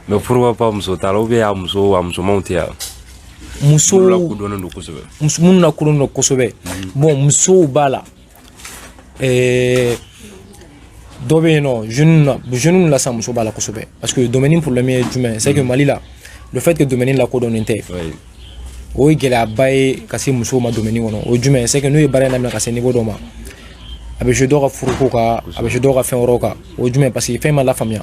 mais pourquoi pas muso t'a la ou bien a muso a musomanw tɛ yan. musow minnu lakodɔnnen don kosɛbɛ. minnu lakodɔnnen don kosɛbɛ bon musow b'a la. Eh, dɔ bɛ yen nɔ jeune na jeune la sa muso b'a la kosɛbɛ parce que domaine problème ye jumɛn c'est que mm. Mali la le fait que domaine lakodɔnnen tɛ o ye gɛlɛyaba ye ka se musow ma domaine kɔnɔ o ye jumɛn c'est que n'u ye baara in daminɛ ka se niveau dɔ ma a bɛ jouer dɔw ka furuko kan a bɛ jouer dɔw ka fɛn wɛrɛw kan o ye jumɛn parce que fɛn ma lafaamuya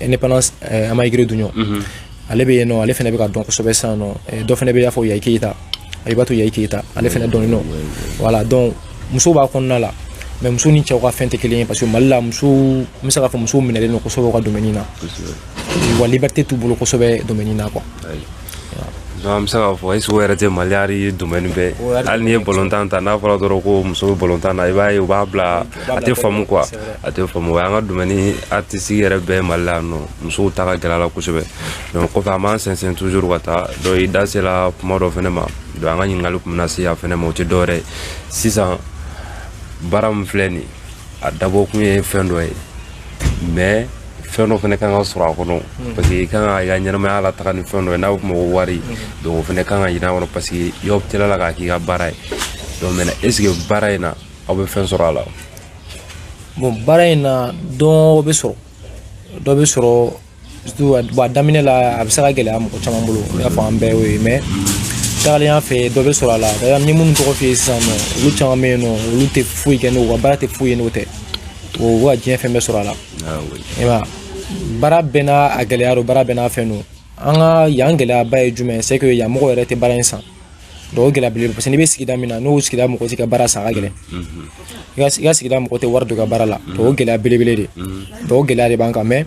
indépendance eh, amayigire duɲɔ mhm. ale bɛ yen nɔ ale fana bɛ ka dɔn kosɛbɛ sisan nɔ eh, dɔ fana bɛ i n'a fɔ yayi keyita abibatu yayi keyita ale fana dɔnnen don voilà donc muso b'a kɔnɔna la mais muso ni cɛw ka fɛn tɛ kelen ye parce que mali la muso n bɛ se k'a fɔ musow minɛlen don kosɛbɛ u ka domaine na wa liberté t'u bolo kosɛbɛ domaine na quoi An bɛ se k'a fɔ est ce que o yɛrɛ tɛ mali domaine bɛɛ hali n'i ye balontan ta n'a fɔra dɔrɔn ko muso bɛ balontan na i b'a ye u b'a bila a tɛ faamu quoi a tɛ faamu o ye an ka domaine artistique yɛrɛ bɛɛ mali la nɔ musow ta ka gɛlɛn a la kosɛbɛ kɔfɛ an b'an sɛnsɛn toujours ka taa donc i da sela kuma dɔ fana ma donc an ka ɲininkali tun na se a fana ma o tɛ dɔwɛrɛ ye sisan baara min filɛ nin a dabɔkun ye fɛn dɔ ye mais fɛn dɔ fana kan ka sɔrɔ a kɔnɔ hmm. parce que i kan ka i ka ɲɛnamaya lataga ni fɛn dɔ ye n'a bɛ f'o ma ko wari hmm. donc o fana kan ka ɲin'a kɔnɔ parce que i optera a la k'a k'i ka baara ye donc maintenant est ce que baara in na aw bɛ fɛn sɔrɔ a la bon baara in na dɔ bɛ sɔrɔ dɔ bɛ sɔrɔ surtout a daminɛ la a bɛ se ka gɛlɛya mɔgɔ caman bolo i n'a fɔ an bɛɛ y'o ye mais tagalen ɲɛfɛ dɔ bɛ sɔrɔ a la d'ailleurs n ye minnu tɔgɔ f'i ye sisan nɔ olu caman bɛ yen nɔ olu tɛ foyi kɛ n'o ka baara tɛ foyi ye n'o tɛ u b'u ka diɲɛ fɛn bɛɛ sɔrɔ a la i m'a ye baara bɛɛ n'a a gɛlɛya don baara bɛɛ n'a fɛn don an ka yan gɛlɛyaba ye jumɛn ye c'est que yan mɔgɔ yɛrɛ tɛ baara in san donc o gɛlɛya belebele parce que n'i bɛ sigida min na n'o sigida mɔgɔ t'i ka baara san a ka gɛlɛn i ka sigida mɔgɔ tɛ wari don i ka baara la donc o gɛlɛya belebele de donc o gɛlɛya de b'an kan mais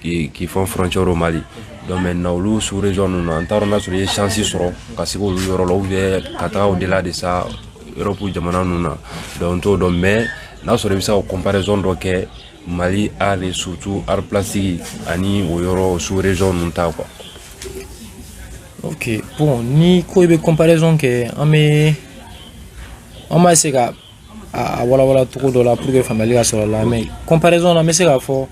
qui font frontière au mali donc maintenant olu sous région ninnu na an t'a dɔn n'a sɔrɔ i ye chance sɔrɔ ka se k'olu yɔrɔ la ou bien ka taga au delà de ça europe jamana ninnu na donc n t'o dɔn mais n'a sɔrɔ i bɛ se ka comparaison dɔ kɛ mali art et surtout art plastique ani o yɔrɔ sous région ninnu ta quoi ok bon ni ko i bɛ comparaison kɛ an bɛ an b'a essayer ka a walawala cogo dɔ la pour que faamuyali ka sɔrɔ a la mais comparaison na n bɛ se k'a fɔ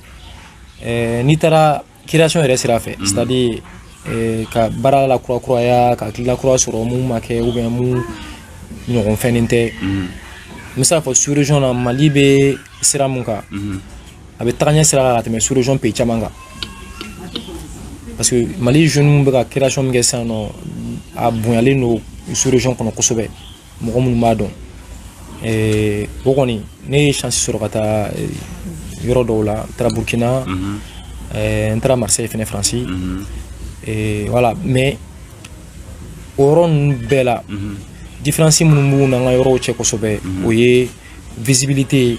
eh, n'i taara création yɛrɛ sira fɛ mhm. c'est à dire eh, ka baara la kurakuraya ka hakilila kura sɔrɔ mun ma kɛ ou bien mun ɲɔgɔn fɛnnen tɛ mhm. n bɛ se k'a fɔ sous région na mali bɛ sira mun kan mhm. a bɛ taga ɲɛ sira kan ka tɛmɛ sous région pays caman kan parce que mali jeunes bɛ ka création min kɛ sisan nɔ a bonyalen don sous région kɔnɔ kosɛbɛ mɔgɔ minnu b'a dɔn eh, o kɔni ne ye chance sɔrɔ ka taa eh, yɔrɔ dɔw la n taara burkina mhm. eh, n taara marseille fɛnɛ faransi mhm. voilà mais o yɔrɔ ninnu bɛɛ la mhm. différence minnu b'u n'an ka yɔrɔw cɛ kosɛbɛ o ye visibilité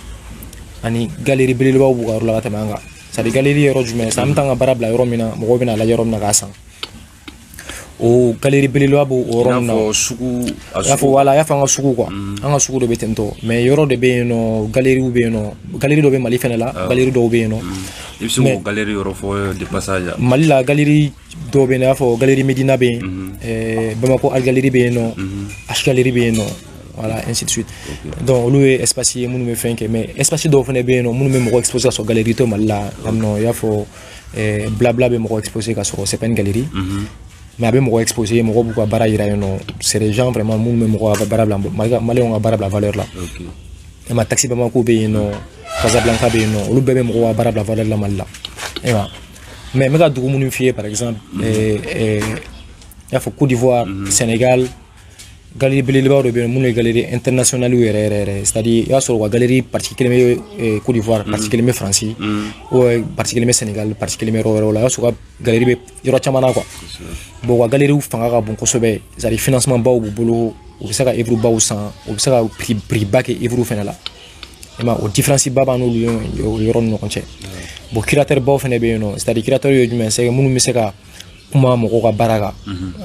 ani galerie belebelebaw b'u ka yɔrɔ la ka tɛmɛ an kan c'est à dire galerie yɔrɔ jumɛn sisan an bɛ taa an ka baara bila yɔrɔ min na mɔgɔw bɛna lajɛ yɔrɔ min na k'a san o galerie belebeleba b'o yɔrɔ na i y'a fɔ voilà i y'a fɔ an ka sugu quoi mm. an ka sugu dɔ bɛ ten tɔ mais yɔrɔ de bɛ yen nɔ galeriw bɛ yen nɔ galerie dɔ bɛ mali fana la ah. galerie dɔw bɛ yen nɔ mm. i bɛ se k'o galerie yɔrɔ fɔ euh, de passage mali la galerie dɔw bɛ yen nɔ i y'a fɔ galerie medina bɛ yen mm-hmm. euh, bamako art gallery bɛ yen nɔ mm-hmm. h gallery bɛ yen nɔ voilà ainsi de suite donc olu ye espace ye minnu bɛ fɛn kɛ mais espace dɔw fana bɛ yen nɔ minnu bɛ mɔgɔ exposer ka sɔrɔ galerie tɛ mali la yan nɔ i y'a fɔ eh, blabla bɛ mɔgɔ exposer ka sɔrɔ c'est pas une galerie mhm. mais a bɛ mɔgɔ exposer mɔgɔ b'u ka baara yira yen nɔ c'est des gens vraiment minnu bɛ mɔgɔ ka baara bila maliyɛnw ka baara bila valeur la i ma taxi bamako bɛ yen nɔ casablanca bɛ yen nɔ olu bɛɛ bɛ mɔgɔ ka baara bila valeur la mali la i ma mais n bɛ ka dugu minnu f'i ye par exemple mhm. eh, eh, i y'a fɔ côte d'ivoire mhm. sénégal galerie belebelebaw de bɛ yen minnu ye galerie internationale yɛrɛ yɛrɛ yɛrɛ c'est à dire i b'a sɔrɔ u ka galerie partie kelen bɛ eh, Côte d'Ivoire mm. partie kelen bɛ France ou mm. partie kelen bɛ Sénégal partie kelen bɛ yɔrɔ wɛrɛw la i b'a sɔrɔ u ka galerie bɛ yɔrɔ caman na quoi bon u ka galeriw fanga ka bon kosɛbɛ c'est à dire financement baw b'u bolo u bɛ se ka œuvre baw san u bɛ se ka prix prix ba kɛ œuvre fana la i ma o différence ba b'an n'olu yɔrɔ ni ɲɔgɔn cɛ bon curateur baw fana bɛ yen nɔ c'est à dire curateur ye jumɛn ye c'est minnu bɛ se ka kuma mɔgɔ ka baara kan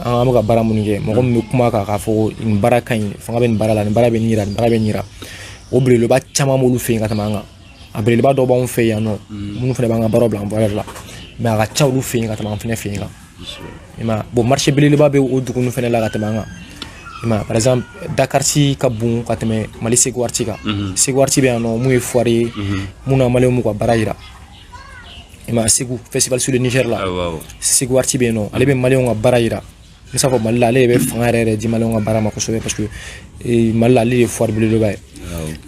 an bɛ ka baara minnu kɛ mɔgɔ min bɛ kuma kan k'a fɔ nin baara ka ɲi fanga bɛ nin baara la nin baara bɛ nin yira nin baara bɛ nin yira o belebeleba caman b'olu fɛ yen ka tɛmɛ an kan a belebeleba dɔw b'anw fɛ yan nɔ minnu fana b'an ka baaraw bila en valeur la mais a ka ca olu fɛ yen ka tɛmɛ an fana fɛ yen kan i ma bon marché belebeleba bɛ o dugu ninnu fana la ka tɛmɛ an kan i ma par exemple dak'art ka bon ka tɛmɛ mali ségou art kan ségou art bɛ yan nɔ mun ye foire ye mun na maliyɛnw b'u ka baara yira i ma segu festival sur le niger la segu arti bɛ yen nɔ ale bɛ maliyɛnw ka baara yira n s'a fɔ mali la ale de bɛ fanga yɛrɛ yɛrɛ di maliyɛnw ka baara ma kosɛbɛ parce que eh, mali la ale de ye foire belebeleba ye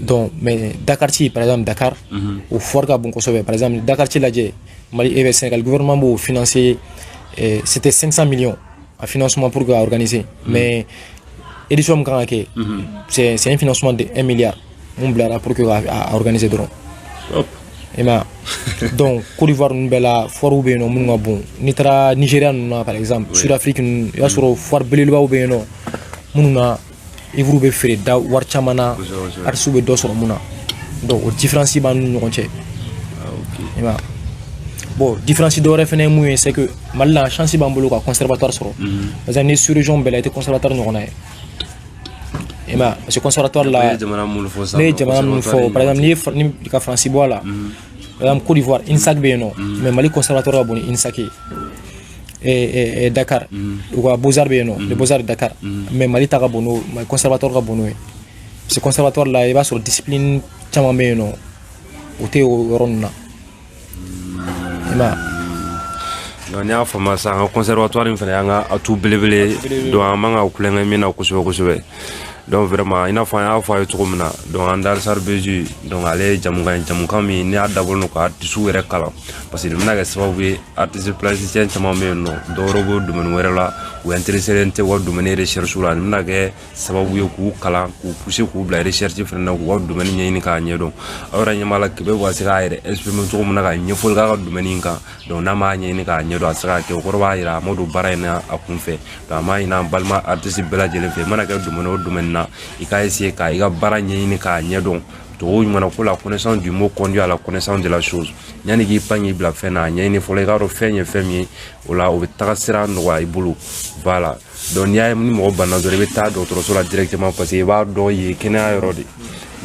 donc mais dak'art par exemple dakar mhm. o foire ka bon kosɛbɛ par exemple dak'art lajɛ mali e eh, sénégal gouvernement b'o financer eh, c'était 500 millions a financement pour k'a organiser mhm. mais édition min kan ka kɛ c'est un financement de 1 milliard min bilara pour que k'a organiser dɔrɔn i ma donc Côte d'Ivoire ninnu bɛɛ la foirew bɛ yen nɔ minnu ka bon n'i taara Nigéria ninnu na par exemple Sud Afrique ninnu i b'a sɔrɔ foire belebelebaw bɛ yen nɔ minnu na œuvre bɛ feere da wari caman na artisiw bɛ dɔ sɔrɔ min na donc o différence b'an n'u ɲɔgɔn cɛ i ma bon différence dɔ wɛrɛ fana ye mun ye c'est que Mali la chance b'an bolo ka conservatoire sɔrɔ parce que nin sous-région bɛɛ la i tɛ conservatoire ɲɔgɔnna ye i ma parce que conservatoire la ne ye jamana minnu fɔ sisan ne ye jamana minnu fɔ par exemple n'i ye n'i ka faransi bɔ a la par exemple Côte d'Ivoire INSAC bɛ yen nɔ mais Mali conservatoire ka bon ni INSAC ye eh, eh, Dakar mm. u ka Beaux-Arts bɛ yen nɔ les Beaux-Arts Dakar mm. mais Mali ta ka bon n'o Mali conservatoire ka bon n'o ye parce que conservatoire la i b'a sɔrɔ discipline caman bɛ yen nɔ o tɛ o yɔrɔ ninnu na n'i y'a faamuya sisan an ka conservatoire in fana y'an ka atout belebele don an man kan ka tulonkɛ min na kosɛbɛ kosɛbɛ donc vraiment i n'a fɔ an y'a fɔ a ye cogo min na donc an darisar beji donc ale ye jɛmukan ye jɛmukan min ni a dabɔlen don ka artisiw yɛrɛ kalan parce que nin bɛna kɛ sababu ye artiste plasticien caman bɛ yen nɔ dɔwɛrɛ b'o domaine wɛrɛ la u intereselen tɛ u ka domaine recherche la nin bɛna kɛ sababu ye k'u kalan k'u pousser k'u bila recherche fana na k'u ka domaine ɲɛɲini k'a ɲɛdɔn aw yɛrɛ ɲɛ b'a la kebe bɛ se k'a yɛrɛ exprime cogo min na ka ɲɛfɔli k'a ka domaine in kan donc n'a m'a ɲɛɲini k'a ɲɛdɔn a tɛ se k'a kɛ o kɔrɔ b'a yira a ma don baara in na a kun fɛ donc an b'a ɲini an balima artiste bɛɛ lajɛlen fɛ i mana kɛ domaine o domaine na i k'a essayer ka i ka baara ɲɛɲini k'a ɲɛdɔn cogo ɲuman na ko la connaissance du mot conduit à la connaissance de la chose yanni k'i pan k'i bila fɛn na a ɲɛɲini fɔlɔ i k'a dɔn fɛn ye fɛn min ye o la o bɛ taga sira nɔgɔya i bolo voilà donc n'i y'a ye ni mɔgɔ banna dɔrɔn i bɛ taa dɔgɔtɔrɔso la directement parce que i b'a dɔn yen kɛnɛya yɔrɔ de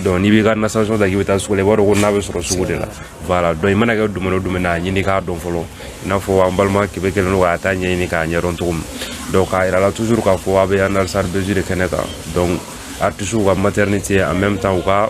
don n'i b'i ka nasɔngɔ ta k'i bɛ taa sugu la i b'a dɔn ko na bɛ sɔrɔ sugu de la voilà donc i mana kɛ domaine o domaine na a ɲini k'a dɔn fɔlɔ i n'a fɔ an balima kebe kɛlen don k'a ta ɲɛɲini k'a ɲɛdɔn cogo min donc k'a yira la toujours k'a fɔ a bɛ analisar besi de kɛnɛ kan donc artisiw ka maternité en même temps u ka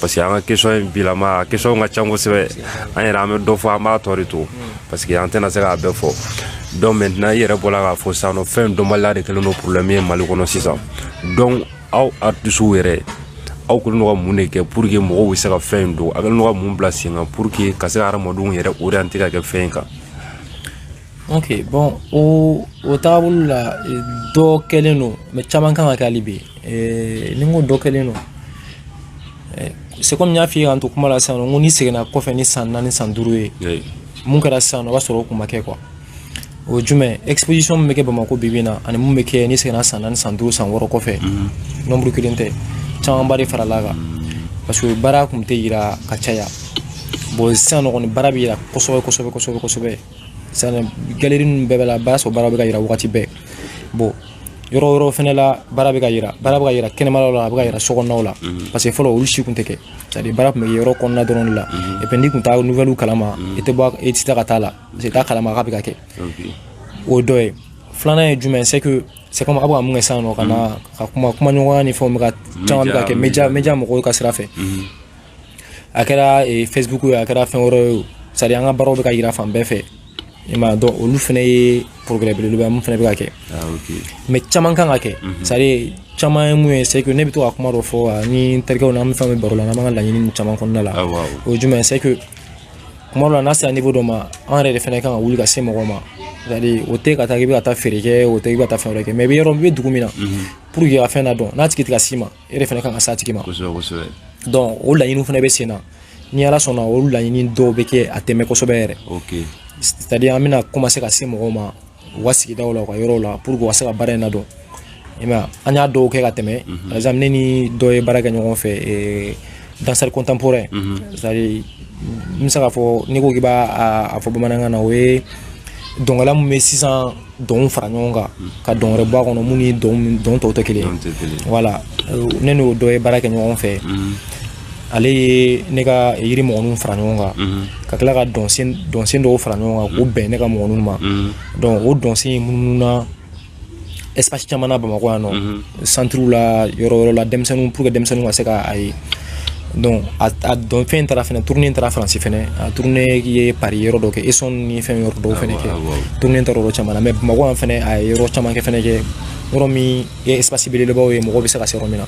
parce que an ka question in bilama a questionw ka can kosɛbɛ an yɛrɛ an bɛ dɔ fɔ an b'a tɔ de to parce que an tɛna se k'a bɛɛ fɔ donc maintenant i yɛrɛ bɔla k'a fɔ sisan nɔ fɛn dɔnbaliya de kɛlen don problème ye mali kɔnɔ sisan donc aw artisiw yɛrɛ aw kɛlen don ka mun de kɛ pour que mɔgɔw bɛ se ka fɛn in don a kɛlen don ka mun bila sen kan pour que ka se ka hadamadenw yɛrɛ orienter ka kɛ fɛn in kan ok bon o o taabolo la dɔ kɛlen don mais caman kan ka kɛ hali bi ni n ko dɔ kɛlen don c'est comme n y'a f'i ye k'an to kuma la sisan nɔ n ko n'i seginna kɔfɛ ni san naani san duuru ye mun kɛra sisan nɔ o b'a sɔrɔ o kun ma kɛ quoi o jumɛn exposition min bɛ kɛ bamako bibi na ani mun bɛ kɛ n'i seginna san naani san duuru san wɔɔrɔ kɔfɛ nombre kelen tɛ camanba de farala kan parce que baara kun tɛ yira ka caya bon sisan nɔ kɔni baara bɛ yira kosɛbɛ kosɛbɛ kosɛbɛ kosɛbɛ c'est à dire galerie ninnu bɛɛ bɛɛ la i b'a sɔrɔ baara bɛ ka yira wagati bɛɛ bon yɔrɔ wɛrɛw fɛnɛ la baara bɛ ka yira baara bɛ ka yira kɛnɛmalaw la a bɛ ka yira sokɔnɔnaw la mhm. parce que fɔlɔ olu si kun tɛ kɛ c'est à dire baara tun bɛ kɛ yɔrɔ kɔnɔna dɔrɔn de la mhm. et puis n'i tun t'a nouvelle kalama mhm. i tɛ bɔ i tɛ taa ka taa la parce que i t'a kalama k'a bɛ ka kɛ o dɔ ye filanan ye jumɛn c'est que c'est comme a bɛ ka mun kɛ sisan nɔ ka na ka kuma kumaɲɔgɔnya ni fɛnw bɛ ka caman bɛ ka kɛ media media mɔgɔw ka sira fɛ a kɛra eh, facebook ye a kɛra fɛn wɛrɛ ye c'est à dire an ka baaraw bɛ ka yira fan bɛɛ fɛ i ma donc olu fana ye progrès belebeleba ye mun fana bɛ ka kɛ ah, mais caman kan ka kɛ mhm. c'est à dire caman ye mun ye c'est que ne bɛ to ka kuma dɔ fɔ ah, ni n terikɛw na an bɛ fɛn bɛ baro la n'an b'an ka laɲini caman kɔnɔna la ah, o ye jumɛn c'est que kuma dɔ la n'a sera niveau dɔ ma an yɛrɛ de fana kan ka wuli ka se mɔgɔ ma c'est-à-dire o tɛ ka taa k'i bɛ ka taa feere kɛ o tɛ k'i bɛ ka taa fɛn wɛrɛ kɛ mais i bɛ yɔrɔ i bɛ dugu min na mhm. pour que ka fɛn nadɔn n'a tigi tɛ ka s'i ma e de fana kan ka s'a tigi ma kosɛbɛ kosɛbɛ donc o laɲiniw fana bɛ sen na ni ala sɔnna o laɲini dɔw bɛ kɛ a tɛmɛ kosɛbɛ yɛrɛ ok c'est à dire an bɛna commencer ka se mɔgɔw ma u ka sigidaw la u ka yɔrɔw la pour que u ka se ka baara in nadɔn i ma an y'a dɔw kɛ ka tɛmɛ mhm. par exemple ne ni dɔ ye baara kɛ ɲɔgɔn fɛ eh, danseur contemporain mhm. c'est à dire n bɛ se k'a fɔ n'i ko k'i b'a a fɔ bamanankan na o ye dɔnkɛla min bɛ sisan dɔnw fara ɲɔgɔn kan ka dɔn wɛrɛ bɔ a kɔnɔ min ni dɔn tɔw tɛ kelen voilà ne n'o dɔ ye baara kɛ ɲɔgɔn fɛ mm-hmm. ale ye ne ka yiri mɔgɔninw fara ɲɔgɔn kan mm-hmm. ka tila ka dɔnsen dɔw fara ɲɔgɔn kan k'o bɛn ne ka mɔgɔninw ma mm-hmm. donc o dɔnsen in munumununa espace caman na bamakɔ yan nɔ centrew la yɔrɔ wɛrɛ la denmisɛnninw pour que denmisɛnninw ka se ka a ye donc a dɔn fɛn taara fɛnɛ tournée taara faransi fɛnɛ a tournée ye paris yɔrɔ dɔ kɛ essonne ni fɛn yɔrɔ dɔw fɛnɛ kɛ tournée taara yɔrɔ caman na mais bamakɔ yan fɛnɛ a ye yɔrɔ caman kɛ fɛnɛ kɛ yɔrɔ min ye espace belebelebaw ye mɔgɔw bɛ se ka se yɔrɔ min na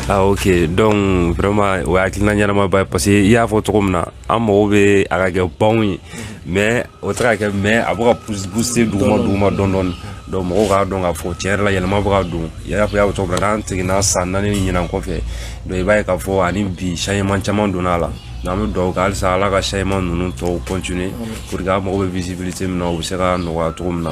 ah ok donc vraiment o ye hakilina ɲɛnamaba ye parce que i y'a fɔ cogo min na an mago bɛ a ka kɛ banw ye mais o tɛ ka kɛ mais a bɛ ka pousser duguma duguma dɔɔni dɔɔni donc mɔgɔw k'a dɔn k'a fɔ tiɲɛ yɛrɛ la yɛlɛma bɛ ka don i y'a fɔ i y'a fɔ cogo min na n'an seginna san naani ni ɲinan kɔfɛ donc i b'a ye k'a fɔ ani bi changement caman donna a la donc an bɛ dugawu kɛ halisa ala ka changement ninnu tɔw continuer pour que an mago bɛ visibilité min na o bɛ se ka nɔgɔya cogo min na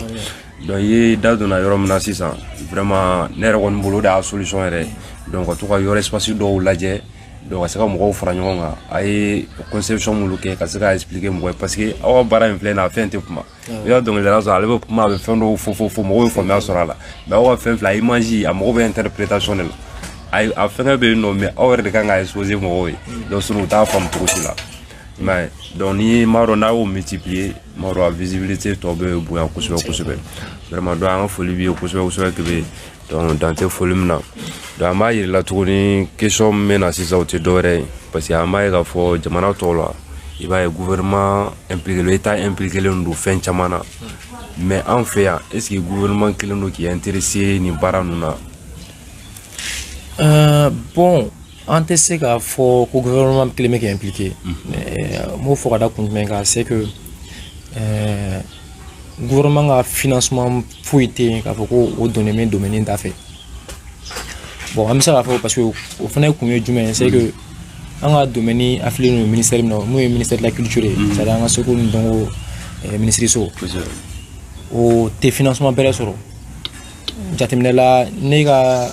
donc i ye da donna yɔrɔ min na sisan vraiment ne yɛrɛ kɔni bolo o de y'a solution yɛrɛ donc ka to ka yɔrɔ espace dɔw lajɛ donc ka se ka mɔgɔw fara ɲɔgɔn kan a ye conception minnu kɛ ka se ka expliquer mɔgɔ ye parce que aw ka baara in filɛ nin ye a fɛn tɛ kuma i ka dɔnkilidala sɔrɔ ale bɛ kuma a bɛ fɛn dɔw fɔ fɔ fɔ mɔgɔw ye faamuya sɔrɔ a la mais aw ka fɛn filɛ a image a mago bɛ interprétation de la a a fɛngɛ bɛ yen nɔ mais aw yɛrɛ de kan ka exposer mɔgɔw ye donc sinon u t'a faamu cogo si la i m'a ye donc ni m'a dɔn n'a y'o multiplier m'a dɔn a visibilité tɔ bɛ bonya kosɛbɛ kosɛbɛ vraiment donc an ka foli b'i ye kosɛbɛ kosɛbɛ Kebe donc dan tɛ foli min na donc an b'a yir'i la tuguni question min bɛ na sisan o tɛ dɔwɛrɛ ye parce que an b'a ye k'a fɔ jamana tɔw la i b'a ye gouvernement impliquelen état impliquelen don fɛn caman na mais an fɛ yan est ce que gouvernement kɛlen don k'i intéresser nin baara ninnu na euh, bon An tɛ se k'a fɔ ko gouvernement kɛlen bɛ k'i impliquer n b'o fɔ ka da kun jumɛn kan c'est que ɛɛ gouvernement ka financement foyi tɛ yen k'a fɔ ko o donnen bɛ domaine in da fɛ bon an bɛ se k'a fɔ parce que o fana kun ye jumɛn ye c'est que an ka domaine affilié don ministère min na n'o ye ministère de la culture ye c'est à dire an ka seko ni dɔnko minisiriso o tɛ financement bɛrɛ sɔrɔ jateminɛ la ne ka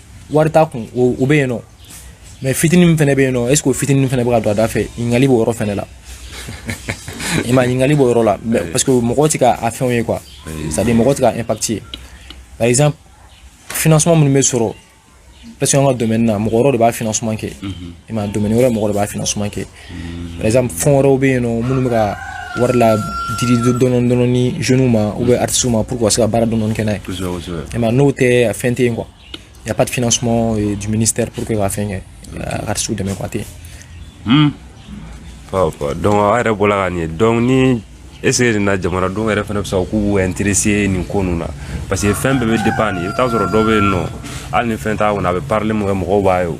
wari t'a kun o bɛ yen nɔ mais fitinin min fana bɛ yen nɔ est ce que o fitinin fana bɛ ka don a da fɛ ɲininkali b'o yɔrɔ fana la i m'a ye ɲininkali b'o yɔrɔ la parce que mɔgɔw tɛ ka a fɛnw ye quoi c'est à dire mɔgɔw tɛ ka impact ye par exemple financement minnu bɛ sɔrɔ parce que an ka domaine na mɔgɔ wɛrɛ de b'a financement kɛ i m'a ye domaine wɛrɛ mɔgɔ de b'a financement kɛ par exemple fonds wɛrɛw bɛ yen nɔ minnu bɛ ka wari la didi dɔɔni dɔɔni ni jeunes ma ou bien artistes ma pour que u ka se ka baara dɔɔni kɛ n'a ye i m'a ye n'o tɛ a fɛn tɛ yen quoi y a pas de financement euh, du ministère pour que ka fɛn kɛ ka artistes dɛmɛ quoi tɛ yen. Hmm. donc aw yɛrɛ bɔra ka nin ye donc ni est ce que nin na jamanadenw yɛrɛ fana bɛ sɔn k'u b'u intéresser nin ko ninnu na parce que fɛn bɛɛ bɛ dépend nin i bɛ taa sɔrɔ dɔ bɛ yen nɔ hali ni fɛn t'a kɔnɔ a bɛ parili min kɛ mɔgɔw b'a ye o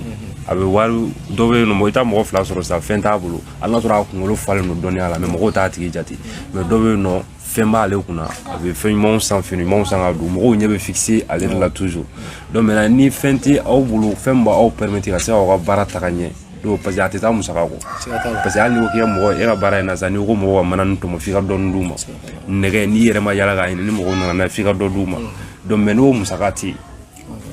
a bɛ wari dɔ bɛ yen nɔ i t'a mɔgɔ fila sɔrɔ sisan fɛn t'a bolo hali n'a sɔrɔ a kunkolo falen don dɔnniya la mais mɔgɔw t'a tigi jate mais dɔ bɛ yen nɔ fɛn b'ale kunna a bɛ fɛn ɲumanw san fini ɲumanw san ka don mɔgɔw ɲɛ bɛ fixer ale de la toujours donc maintenant ni fɛn tɛ aw bolo fɛn min b'aw permettre ka se k'aw ka baara taga ɲɛ donc parce que a tɛ taa musaka kɔ parce que hali n'i ko k'i ka mɔgɔ e ka baara in na sisan n'i ko mɔgɔw ka mana nin tɔmɔ f'i ka dɔɔni d'u ma nɛgɛ n'i yɛrɛ ma yala k'a ɲini ni mɔgɔw nana n'a ye f'i ka dɔ d'u ma donc mais n'o musaka tɛ yen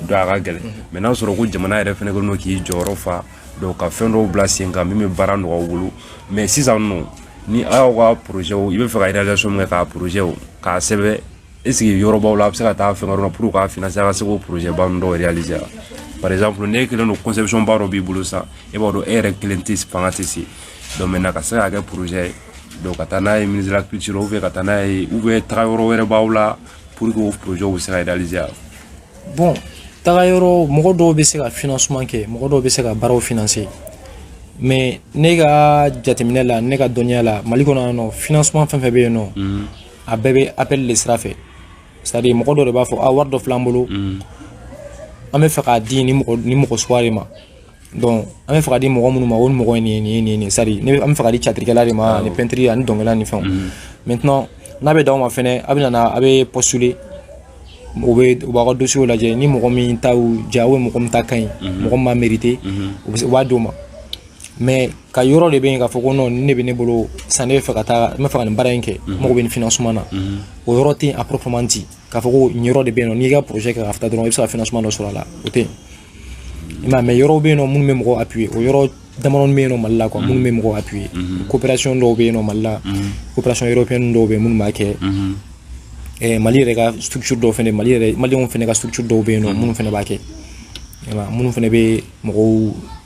donc a ka gɛlɛn mais n'a sɔrɔ ko jamana yɛrɛ fana kɛlen don k'i jɔyɔrɔ fa donc ka fɛn dɔw bila sen kan min bɛ baara nɔgɔya u bolo mais sisan nɔ ni a y'aw ka projets i bɛ fɛ ka réalisation min kɛ k'a projets k'a sɛbɛn est ce que yɔrɔbaw la a bɛ se ka taa fɛn wɛrɛ pour k'a financer a ka se k'o projet ba ninnu dɔw réaliser wa par exemple n'e kelen don conception ba dɔ b'i bolo sisan e b'a dɔn e yɛrɛ kelen tɛ fanga tɛ se donc maintenant ka se k'a kɛ projet ye donc ka taa n'a ye ministre de la culture ou bien ka taa n'a ye ou bien taga yɔrɔ wɛrɛ b'aw la pour que o projet bɛ se ka réaliser wa bon taga yɔrɔ mɔgɔ dɔw bɛ se ka financement kɛ mɔgɔ dɔw bɛ se ka baaraw financer mais ne ka jateminɛ la ne ka dɔnniya la mali kɔnɔ yan nɔ financement fɛn fɛn bɛ yen nɔ a bɛɛ bɛ appel de sira fɛ c'est à dire mɔgɔ dɔ de b'a fɔ a wari dɔ fil'an bolo mm. an bɛ fɛ k'a di ni mɔgɔ ni mɔgɔ suguya de ma donc an bɛ fɛ k'a di mɔgɔ minnu ma o ni mɔgɔ ye nin ye nin ye nin ye nin c'est à dire an bɛ fɛ k'a di tiyatirikɛla de ma ani peintre ani dɔnkɛla ni fɛnw mm. maintenant n'a bɛ d'aw ma fɛnɛ a bɛ nana a bɛ postuler o bɛ u b'aw ka dossierw lajɛ ni mɔgɔ min ta y'u diya mɔgɔ min ta ka ɲi mɔgɔ min b'a mériter u b'a d'o ma mais ka yɔrɔ de bɛ yen k'a fɔ ko ni ne bɛ ne bolo sisan ne bɛ fɛ ka taa n bɛ fɛ ka nin baara in kɛ mhm. n mago bɛ nin financement na mhm. o yɔrɔ tɛ yen à proprement dit k'a fɔ ko nin yɔrɔ de bɛ yen nɔ n'i y'i ka projet kɛ ka taa dɔrɔn i bɛ se ka financement dɔ sɔrɔ a la o tɛ yen i m'a ye mais yɔrɔw bɛ yen nɔ minnu bɛ mɔgɔ appuyer o yɔrɔ damadɔni bɛ yen nɔ mali la quoi mhm. minnu bɛ mɔgɔ appuyer coopération dɔw bɛ yen nɔ mali la coopération européenne dɔw bɛ yen minnu b'a kɛ eh, mali yɛrɛ ka structure dɔw fana mali yɛrɛ maliyɛnw fana ka structure dɔw bɛ yen nɔ minnu fana b'a kɛ minnu fana bɛ mɔgɔw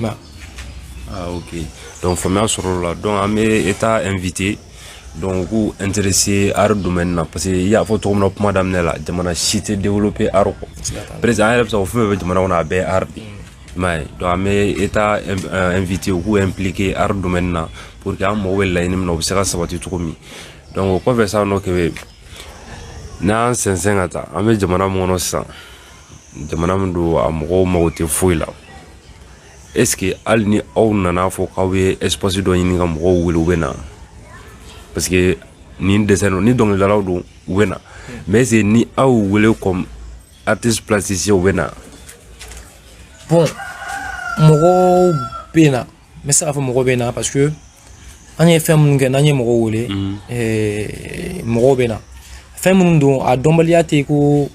ma ah ok donc faamuya sɔrɔla donc an bɛ état inviter donc u k'u intéresser art domaine na parce que i y'a fɔ cogo min na kuma daminɛ la jamana si tɛ développer art kɔ presque an yɛrɛ bɛ se k'o fɛn fɛn bɛ jamana kɔnɔ a bɛɛ ye art de ye i m'a ye donc an bɛ état inviter u k'u impliquer art domaine na pour que an mago bɛ laɲini min na o bɛ se ka sabati cogo min donc o kɔfɛ sisan nɔ kebe n'an sɛnsɛn ka taa an bɛ jamana min kɔnɔ sisan jamana min don a mɔgɔw mago tɛ foyi la est ce que hali ni aw nana a fɔ k'aw ye espace dɔ ɲini ka mɔgɔw wele u bɛ na parce que ni danse don ni dɔnkilidalaw don u bɛ na mais est ce que ni aw wele comme artiste plasticien u bɛ na bon mɔgɔw bɛ na n bɛ se k'a fɔ mɔgɔ bɛ na parce que an ye fɛn minnu kɛ n'an ye mɔgɔw wele mhm. eh, mɔgɔw bɛ na fɛn minnu don a dɔnbaliya tɛ ko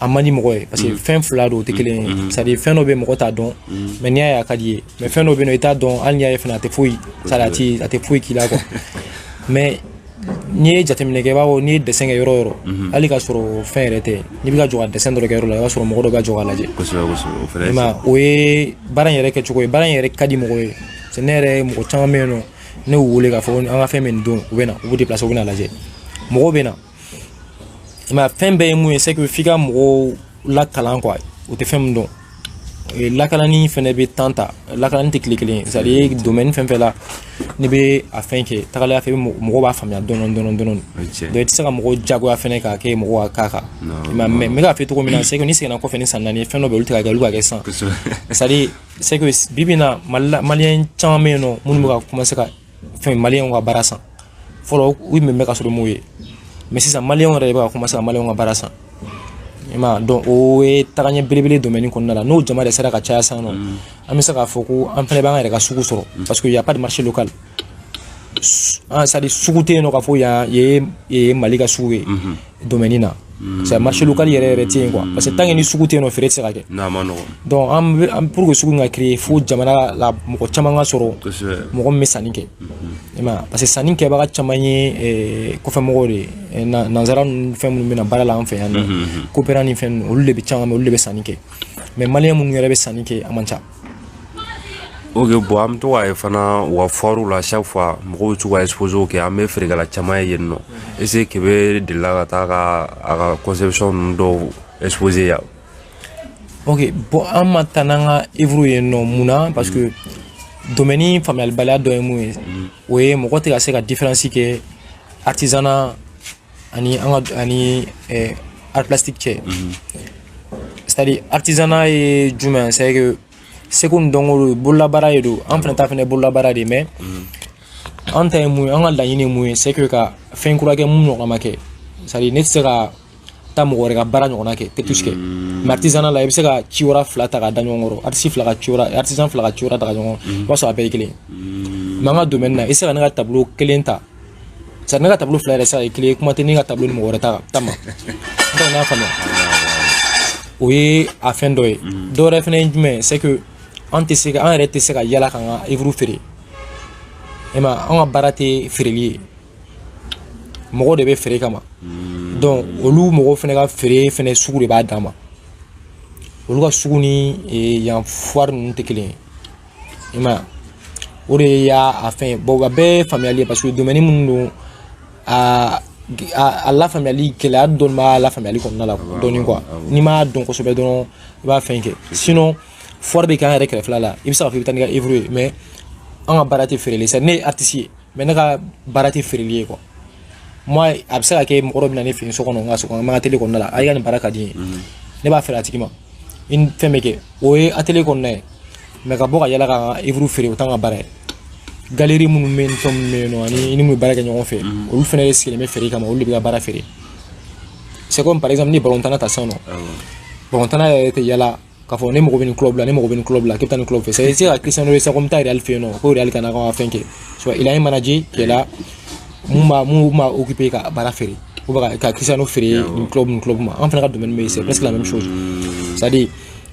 a man di mɔgɔ ye parce que mhm. fɛn fila don o tɛ kelen ye mhm. c'est à dire fɛn dɔ bɛ mɔgɔ t'a dɔn mais n'i y'a ye a ka d'i ye mais fɛn dɔ bɛ yen nɔ i t'a dɔn hali n'i y'a ye fana a tɛ foyi c'est à dire a tɛ foyi k'i la quoi mais n'i ye jateminɛ kɛ i b'a fɔ n'i ye dessin kɛ yɔrɔ o yɔrɔ mhm. hali k'a sɔrɔ fɛn yɛrɛ tɛ n'i bɛ ka jɔ ka dessin dɔ kɛ yɔrɔ la i b'a sɔrɔ mɔgɔ dɔ bɛ jɔ k'a lajɛ o ye baara in yɛrɛ kɛcogo ye baara in yɛrɛ ka di mɔgɔ ye parce que ne yɛrɛ mɔgɔ caman bɛ yen nɔ ne y'u wele k'a fɔ an ka fɛn bɛ nin don u bɛ na u b'u déplacer u bɛ n'a lajɛ mɔgɔw bɛ na i m'a ye fɛn bɛɛ ye mun ye c'est que f'i ka mɔgɔw lakalan quoi u tɛ fɛn min dɔn lakalanni fɛnɛ bɛ temps ta lakalanni tɛ tile kelen c'est à dire domaine fɛn fɛn la n'i bɛ a fɛn kɛ tagalaya fɛ mɔgɔ b'a faamuya dɔɔni dɔɔni dɔɔni donc i tɛ se ka mɔgɔw jagoya fɛnɛ k'a kɛ mɔgɔ ka k'a kan mɛn mais n bɛ k'a fɛ cogo min na c'est que ni seginna kɔfɛ ni san naani fɛn dɔ bɛ olu tɛ ka kɛ olu ka kɛ sisan c'est à dire c'est que bi bi in na mali la maliyɛn caman bɛ yen nɔ minnu bɛ ka commencer ka fɛn maliyɛnw ka baara san fɔlɔ u tun bɛ mɛɛn ka sɔrɔ m'o ye mais sisan maliyɛnw yɛrɛ de bɛ ka commencer ka maliyɛnw ka baara san i ma donc o ye tagaɲɛ belebele domaine kɔnɔna la n'o jama de sera ka caya sisan nɔ mm. an bɛ se k'a fɔ ko an fana b'an yɛrɛ ka sugu sɔrɔ mm. parce que y a pas de marché local an ah, c'est à dire sugu tɛ yen nɔ k'a fɔ yan ye mali ka sugu ye mm-hmm. domaine na mm. c'est marché local yɛrɛ yɛrɛ tɛ yen quoi parce que tant que ni sugu tɛ yen nɔ feere tɛ se ka kɛ n'a ma nɔgɔ donc an bɛ an pour que sugu ka créer fo jamana la mɔgɔ caman ka sɔrɔ mɔgɔ min bɛ sanni kɛ mm-hmm. i ma parce que sanni kɛbaga caman ye eh, kɔfɛmɔgɔw de ye eh, nanzara ninnu fɛn minnu bɛ na baara la an fɛ yan nɔ mm-hmm. coopérant ni fɛn ninnu olu de bɛ caman olu de bɛ sanni kɛ mais maliyɛn minnu yɛrɛ bɛ sanni kɛ a man ca Ok bon an bɛ to k'a ye fana u ka foire la chaque fois mɔgɔw bɛ to ka exposé kɛ an bɛ feerekɛla caman ye yen nɔ est ce que Kebe delila ka taa ka a ka conception ninnu dɔw exposé yan. ok bon an ma taa n'an ka œuvres ye yen nɔ mun na parce que domaine faamuyalibaliya dɔ ye mun ye o ye mɔgɔ tɛ ka se ka différence kɛ artisanat ani an ka ani eh, art plastique cɛ mhm. c'est à dire artisanat ye jumɛn c'est que seko ni dɔnko don bololabaara de don an fana ta fana bololabaara de mais mhm. an ta ye mun ye an ka laɲini ye mun ye c'est que ka fɛn kura kɛ min ɲɔgɔn ma kɛ c'est à dire ne tɛ se ka taa mɔgɔ wɛrɛ ka baara ɲɔgɔnna kɛ tɛtus kɛ mais artisanat la i bɛ se ka ciwara fila ta ka da ɲɔgɔn kɔrɔ artiste fila ka ciwara artisan fila ka ciwara ta ka ɲɔgɔn i b'a sɔrɔ a bɛɛ ye kelen mais an ka domaine na i tɛ se ka ne ka tableau kelen ta c'est à dire ne ka tableau fila yɛrɛ tɛ se ka kɛ kelen ye kuma tɛ ne ka tableau ni mɔgɔ wɛrɛ ta ta ma n tɛ n'a faamuya o ye a fɛn dɔ ye dɔ wɛrɛ fɛnɛ ye jumɛn c'est que an tɛ se ka an yɛrɛ tɛ se ka yala k'an ka œuvre feere i ma an ka baara tɛ feereli ye mɔgɔ de bɛ feere kama donc olu mɔgɔw fɛnɛ ka feere fɛnɛ sugu de b'a dan ma olu ka sugu ni yan foire ninnu tɛ kelen ye i ma o de y'a a fɛn ye bon a bɛɛ ye faamuyali ye parce que domaine minnu don a a lafaamuyali gɛlɛya dɔɔni b'a lafaamuyali kɔnɔna la dɔɔni quoi n'i m'a dɔn kosɛbɛ dɔrɔn i b'a fɛn kɛ sinon foire bɛ kɛ an yɛrɛ kɛrɛfɛla la i bɛ se k'a fɔ i bɛ taa n'i ka œuvre ye mais an ka baara tɛ feereli sa ne ye artiste ye mais ne ka baara tɛ feereli ye quoi moi a bɛ se ka kɛ mɔgɔ dɔ bɛ na ne fɛ yen so kɔnɔ n ka so kɔnɔ n ka atelier kɔnɔna la a y'i ka nin baara ka di n ye mhm. ne b'a feere a tigi ma i ni fɛn bɛ kɛ o ye atelier kɔnɔna ye mais ka bɔ ka yala ka n ka œuvre feere o t'an ka baara ye galerie minnu bɛ yen ni fɛn minnu bɛ yen nɔ ani i ni minnu bɛ baara kɛ ɲɔgɔn fɛ mhm. olu fana de sigilen bɛ feere kama olu de bɛ ka baara feere c'est comme par exemple ni balontanna ta sisan nɔ balontanna yɛrɛ tɛ yala k'a fɔ ne mago bɛ nin club la ne mago bɛ nin club la k'e bɛ taa nin club fɛ c'est à dire se ka Cristiano dɔ ye sisan ko n bɛ taa Real fɛ yen nɔ ko Real kana k'an ka fɛn kɛ soit il a un manager qui est là mun b'a mun b'a occuper ka baara feere ou bien ka Cristiano feere nin club nin club ma an fɛnɛ ka domaine bɛ yen c'est presque la même chose c'est à dire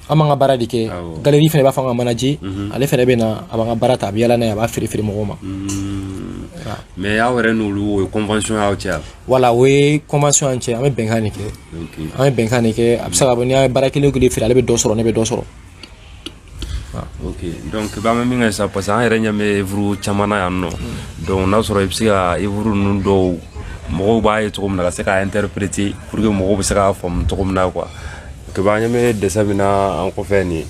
an b'an ka baara de kɛ galerie fɛnɛ b'a fɔ an ka manager ale fɛnɛ bɛ na a b'an ka baara ta a bɛ yaala n'a ye a b'a feere feere mɔgɔw ma mais aw yɛrɛ n'olu o ye convention y'aw cɛ wa. voilà o ye convention y'an cɛ an bɛ bɛnkan de kɛ an ye bɛnkan de kɛ a bɛ se ka bɔ n'i y'a ye baara kelen o kelen feere ale bɛ dɔ sɔrɔ ne bɛ dɔ sɔrɔ ok donc b'an bɛ min kɛ sisan parce que an yɛrɛ ɲɛ bɛ œuvre caman na yan nɔ donc n'a sɔrɔ i bɛ se ka œuvre ninnu dɔw mɔgɔw b'a ye cogo min na ka se k'a interpréter pour que mɔgɔw bɛ se k'a faamu cogo min na quoi que b'an ɲɛ bɛ dessin min na an kɔfɛ nin ye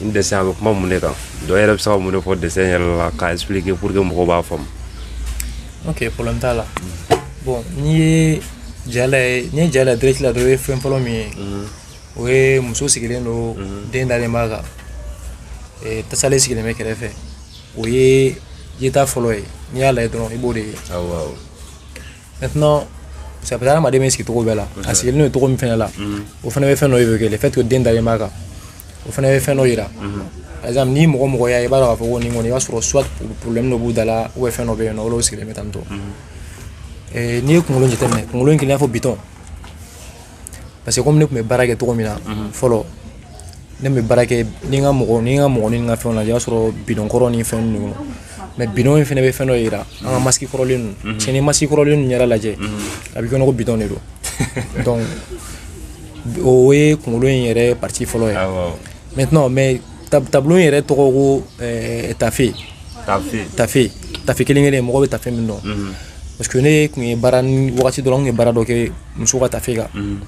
n dessin a bɛ kuma mun de kan dɔ yɛrɛ bɛ se ka mun de fɔ dessin yɛrɛ la k'a expliquer pour que mɔgɔw b'a faamu ok problème t'a la bon n'i ye ja lajɛ n'i ye ja lajɛ direct la dɔrɔn i ye fɛn fɔlɔ min ye o ye muso sigilen don den dalen b'a kan eh, tasalen sigilen bɛ kɛrɛfɛ o ye yeta fɔlɔ ye n'i y'a lajɛ dɔrɔn i b'o de ye awɔ awɔ maintenant c'est peut-être adamaden bɛ sigi cogo bɛɛ la a sigilen don cogo min fɛnɛ la o fɛnɛ bɛ fɛn dɔ évoquer le fait que den dalen b'a kan o fɛnɛ bɛ fɛn dɔ yira par exemple ni mɔgɔ mɔgɔ y'a ye i b'a dɔn k'a fɔ ko nin kɔni i b'a sɔrɔ soit problème dɔ b'u da la ou bien fɛn dɔ bɛ yen nɔ olu sigilen bɛ tan tɔ n'i ye kunkolo jateminɛ kunkolo in kɛlen i n'a fɔ bidɔn parce que comme ne kun bɛ baara kɛ cogo min na mhm. fɔlɔ ne bɛ baara kɛ ni n ka mɔgɔ ni n ka mɔgɔ ni n ka fɛnw lajɛ i b'a sɔrɔ bidɔn kɔrɔ ni fɛn ninnu kɔnɔ mais bidɔn in fɛnɛ bɛ fɛn dɔ yira an ka mhm. masque kɔrɔlen ninnu mhm. cɛ ni masque kɔrɔlen ninnu yɛrɛ lajɛ a bɛ comme ko bidɔn de don donc o ye kunkolo in yɛrɛ partie fɔlɔ ye maintenant mais tableau in yɛrɛ tɔgɔ ko eh, tafe tafe tafe tafe kelen kelen mɔgɔ bɛ tafe min dɔn mhm. parce que ne kun ye baara ni wagati dɔ la n kun ye baara dɔ kɛ muso ka tafe kan mhm.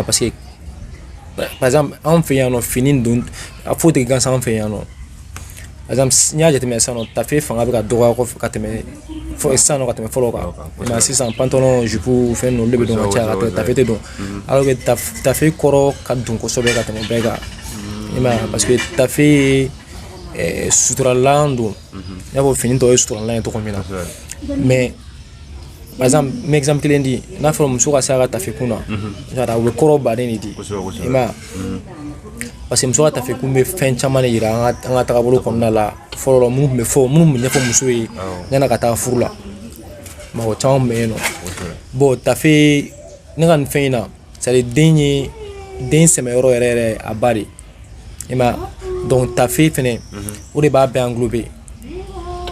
parce que par exemple anw fɛ yan nɔ fini don a foyi tɛ gansan anw fɛ yan nɔ par exemple n'i y'a jateminɛ sisan nɔ tafe fanga bɛ ka dɔgɔya kɔfɛ ka tɛmɛ fɔ sisan nɔ ka tɛmɛ fɔlɔ kan mais sisan pantalon jupe fɛn ninnu olu de bɛ don ka caya ka tɛmɛ tafe tɛ don alors que tafe kɔrɔ ka dun kosɛbɛ ka tɛmɛ bɛɛ kan i m'a ye parce que tafe ye eh, suturalan don i n'a fɔ fini tɔw ye suturalan ye cogo min na mais par exemple n bɛ exemple kelen di n'a fɔra muso ka se a ka tafe kun na a bɛ kɔrɔ baden de di i m'a ye parce que muso ka tafe kun bɛ fɛn caman de yira an ka tagabolo kɔnɔna la fɔlɔ minnu tun bɛ fɔ minnu tun bɛ ɲɛfɔ muso ye yan'a ka taa furu la mɔgɔ caman tun bɛ yen nɔ bon tafe ne ka nin fɛn in na c'est à dire den ye den sɛmɛyɔrɔ yɛrɛ yɛrɛ a ba de i m'a ye donc tafe fɛnɛ mhm. o de b'a bɛɛ englober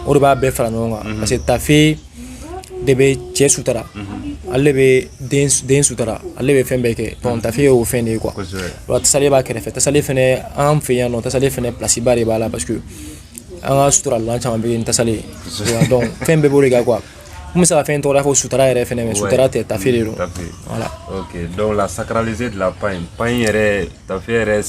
o de b'a bɛɛ fara ɲɔgɔn kan mhm. parce que tafe de bɛ cɛ sutura ale bɛ den sutura ale bɛ fɛn bɛɛ kɛ donc tafe y'o fɛn de ye quoi wa tasale b'a kɛrɛfɛ tasale fɛnɛ an fɛ yan nɔ tasale fɛnɛ place ba de b'a la parce que an ka suturalan caman bɛ yen tasale donc fɛn bɛɛ b'o de kan quoi n bɛ se ka fɛn tɔgɔ fɔ sutura yɛrɛ fɛnɛ mais sutura tɛ tafe de don voilà donc la sacralisée de la pagne pagne yɛrɛ tafe yɛrɛ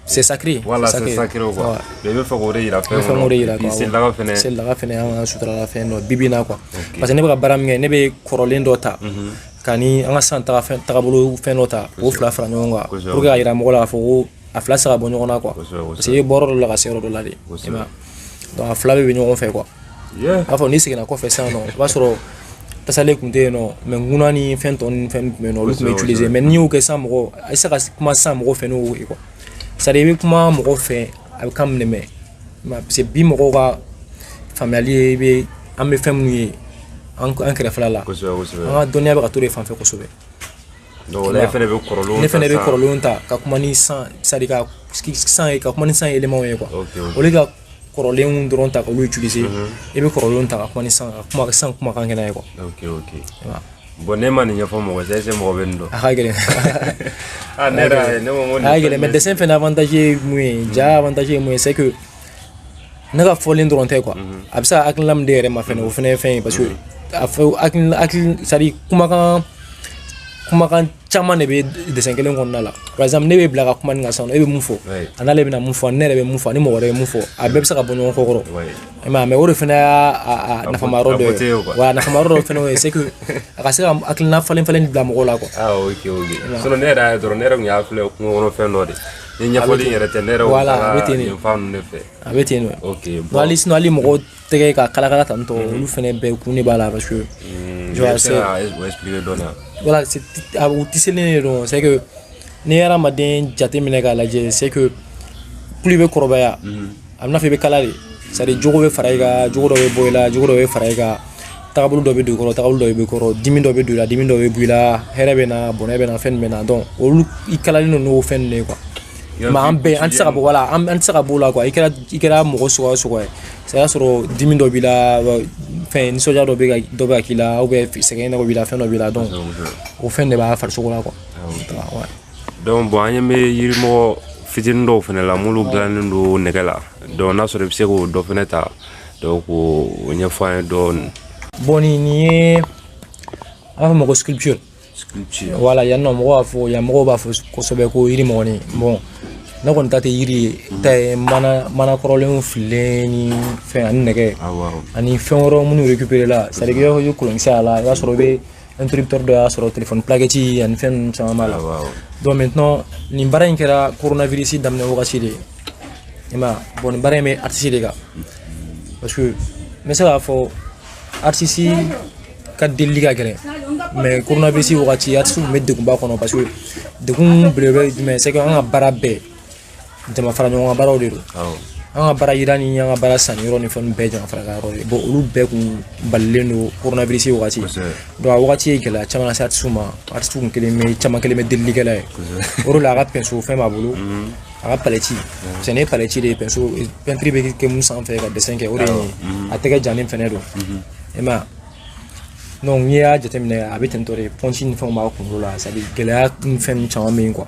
c'est sacré voilà c'est sacré quoi mais bɛ fɛ k'o de yira fɛn kɔnɔ yira quoi selidaga fɛnɛ selidaga fɛnɛ an ka suturalan fɛn dɔ bi bi na quoi parce que ne bɛ ka baara min kɛ ne bɛ kɔrɔlen dɔ ta mhm. ka ni an ka san taga fɛn tagabolo fɛn dɔ ta k'o fila fara ɲɔgɔn kan pour que ka yira mɔgɔ la k'a fɔ ko a fila tɛ se ka bɔ ɲɔgɔn na quoi parce que i bɛ bɔ yɔrɔ dɔ la ka se yɔrɔ dɔ la de donc a fila bɛɛ bɛ ɲɔgɔn fɛ quoi i b'a fɔ n'i seginna kɔfɛ sisan nɔ i b'a sɔrɔ tasale tun tɛ yen nɔ mais ŋuna ni fɛn tɔ ni fɛn tun bɛ yen nɔ olu tun bɛ utiliser mais n'i y'o kɛ sisan mɔgɔ a bɛ se ka kuma sisan mɔgɔw fɛ n'o ye quoi c'est à dire i bɛ kuma mɔgɔw fɛ a bɛ kan min mɛn parce que bi mɔgɔw ka faamuyali ye i bɛ an bɛ fɛn minnu ye an kɛrɛfɛla la an ka dɔnniya bɛ ka t'o de fan fɛ kosɛbɛ ne fɛnɛ bɛ kɔrɔlen ne fɛnɛ bɛ kɔrɔlenw ta ka kuma ni san c'est à dire ka san ye ka kuma ni san éléments ye quoi au lieu ka kɔrɔlen dɔrɔn ta k'olu utiliser i bɛ kɔrɔlen ta ka kuma ni san ka kuma san kumakan kɛ n'a ye quoi bon ne ma nin ɲɛfɔ mɔgɔ c'est c'est mɔgɔ bɛ nin dɔn a ka gɛlɛn ne yɛrɛ ne ko a ka gɛlɛn mais dessin fɛnɛ avantage ye mun ye ja avantage ye mun ye c'est que ne ka fɔlen dɔrɔn tɛ quoi mhm. a bɛ se ka hakilina min di yɛrɛ ma fɛnɛ o fɛnɛ ye fɛn ye parce que a fɔ hakili hakili c'est à dire kumakan kumakan caman de bɛ dessin kelen kɔnɔna la par exemple ne bɛ bila ka kuma nin kan sisan e bɛ mun fɔ an'ale bɛna mun fɔ ne yɛrɛ bɛ mun fɔ ni mɔgɔ wɛrɛ bɛ mun fɔ a bɛɛ bɛ se ka bɔ ɲɔgɔn kɔ kɔrɔ i m'a ye mais o de fɛnɛ y'a nafama yɔrɔ dɔ ye wa nafama yɔrɔ dɔ fɛnɛ ye c'est que a ka se ka hakilina falen falen bila mɔgɔw la quoi. ah ok ok sinon ne yɛrɛ y'a ye dɔrɔn ne yɛrɛ tun y'a filɛ kungo kɔnɔ fɛn dɔ de ye. Ni ɲɛfɔli in yɛrɛ tɛ ne yɛrɛ voilà a bɛ ten de fan ninnu de fɛ a bɛ ten de ok bon hali sinon hali mɔgɔw tɛgɛ ka kalakala tan tɔ mhm. olu fɛnɛ bɛɛ kun de b'a la parce que mm, je vais c'est o expliquer dɔɔni yan voilà c'est u tiselen de don c'est que ne ye hadamaden jateminɛ k'a lajɛ c'est que plus i bɛ kɔrɔbaya mhm. a b'i n'a fɔ i bɛ kala de c'est à dire jogo bɛ fara i kan jogo dɔ bɛ bɔ i la jogo dɔ bɛ fara i kan tagabolo dɔ bɛ don i kɔrɔ tagabolo dɔ bɛ bɔ i kɔrɔ dimi dɔ bɛ don i la dimi dɔ bɛ bɔ i la hɛrɛ bɛ na bɔnɛ bɛ na fɛn bɛ na donc olu i kalalen don n'o fɛn de ye quoi mais an bɛɛ an tɛ se ka bɔ voilà an tɛ se ka b'o la quoi i kɛra i kɛra mɔgɔ suguya o suguya ye c'est y'a sɔrɔ dimi dɔ b'i la fɛn nisɔndiya dɔ bɛ ka dɔ bɛ ka k'i la sɛgɛn dɔ b'i la fɛn dɔ b'i la donc o fɛn de b'a farisogo la quoi donc bon an ɲɛ bɛ yirimɔgɔ fitinin dɔw fɛnɛ la minnu dilannen don nɛgɛ la donc n'a sɔrɔ i bɛ se k'o dɔ fɛnɛ ta donc k'o ɲɛfɔ an ye dɔɔnin. bon nin nin ye an b'a fɔ ma ko sculpture. sculpture voilà yan nɔ mɔgɔw b'a fɔ yan mɔgɔw b'a fɔ kosɛbɛ ko yirimɔgɔnin bon ne kɔni ta tɛ yiri ye n ta ye mana mana kɔrɔlenw fililen ni fɛn ani nɛgɛ ani fɛn wɛrɛw minnu récupéré la c'est à dire i b'a fɔ i bɛ kolonkisɛ a la i b'a sɔrɔ i bɛ interrupteur dɔ y'a sɔrɔ téléphone plaquette ani fɛn ninnu caman b'a la donc maintenant nin baara in kɛra coronavirus daminɛ wagati de i m'a ye bon nin baara in bɛ artiste de kan parce que n bɛ se k'a fɔ artiste ka delili ka gɛlɛn mais coronavirus wagati artiste tun bɛ degunba kɔnɔ parce que degun belebele ye jumɛn c'est que an ka baara bɛɛ jama fara ɲɔgɔn kan baaraw de don an ka baara yira ni an ka baara sanni yɔrɔ ni fɛnw bɛɛ jama fara ka yɔrɔ ye bon olu bɛɛ kun balilen don coronavirus wagati donc a wagati ye gɛlɛya caman lase artisiw ma artisiw kun kɛlen bɛ caman kɛlen bɛ delilikɛla ye o de la a ka pinceau fɛn b'a bolo mhm. a ka palette parce que nin ye palette de ye pinceau peinture bɛ kɛ min sanfɛ ka dessin kɛ o de ye mhm. a tɛgɛ jannen fɛnɛ don mhm. i m'a ye donc n'i y'a jateminɛ a bɛ tentɔ de pɔnti ni fɛnw b'a kunkolo la c'est à dire gɛlɛya ni fɛn ninnu caman bɛ yen quoi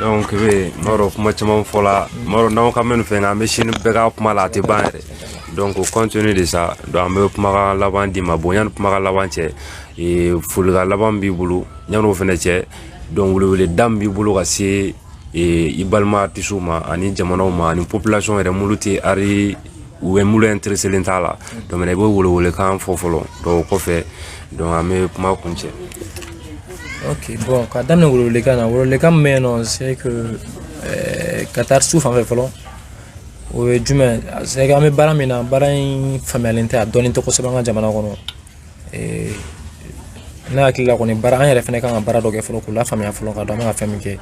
donc Maro kuma caman fɔla Maro n'aw ka mɛn fɛn kan an bɛ sini bɛɛ kɛ kuma la a tɛ ban yɛrɛ donc compte tenu de ça donc an bɛ kumakan laban d'i ma bon yanni kumakan laban cɛ ee, folikan laban b'i bolo yanni o fɛnɛ cɛ donc weleweleda min b'i bolo ka se ee, i balima artisiw ma ani jamanaw ma ani population yɛrɛ minnu tɛ ari u bɛ minnu intereselen t'a la donc i bɛ welewelekan fɔ fɔlɔ donc o kɔfɛ donc an bɛ kuma kuncɛ ok bon ka daminɛ welewelekan na welewelekan min bɛ yen nɔ c'est que euh, ka taa artisiw fan fɛ fɔlɔ o ye jumɛn c'est que an bɛ baara min na baara in faamuyalen tɛ a dɔnnen tɛ kosɛbɛ an ka jamana kɔnɔ euh, ne hakili la kɔni baara an yɛrɛ fɛnɛ kan ka baara dɔ kɛ fɔlɔ k'u lafaamuya fɔlɔ k'a dɔn an bɛ ka fɛn min kɛ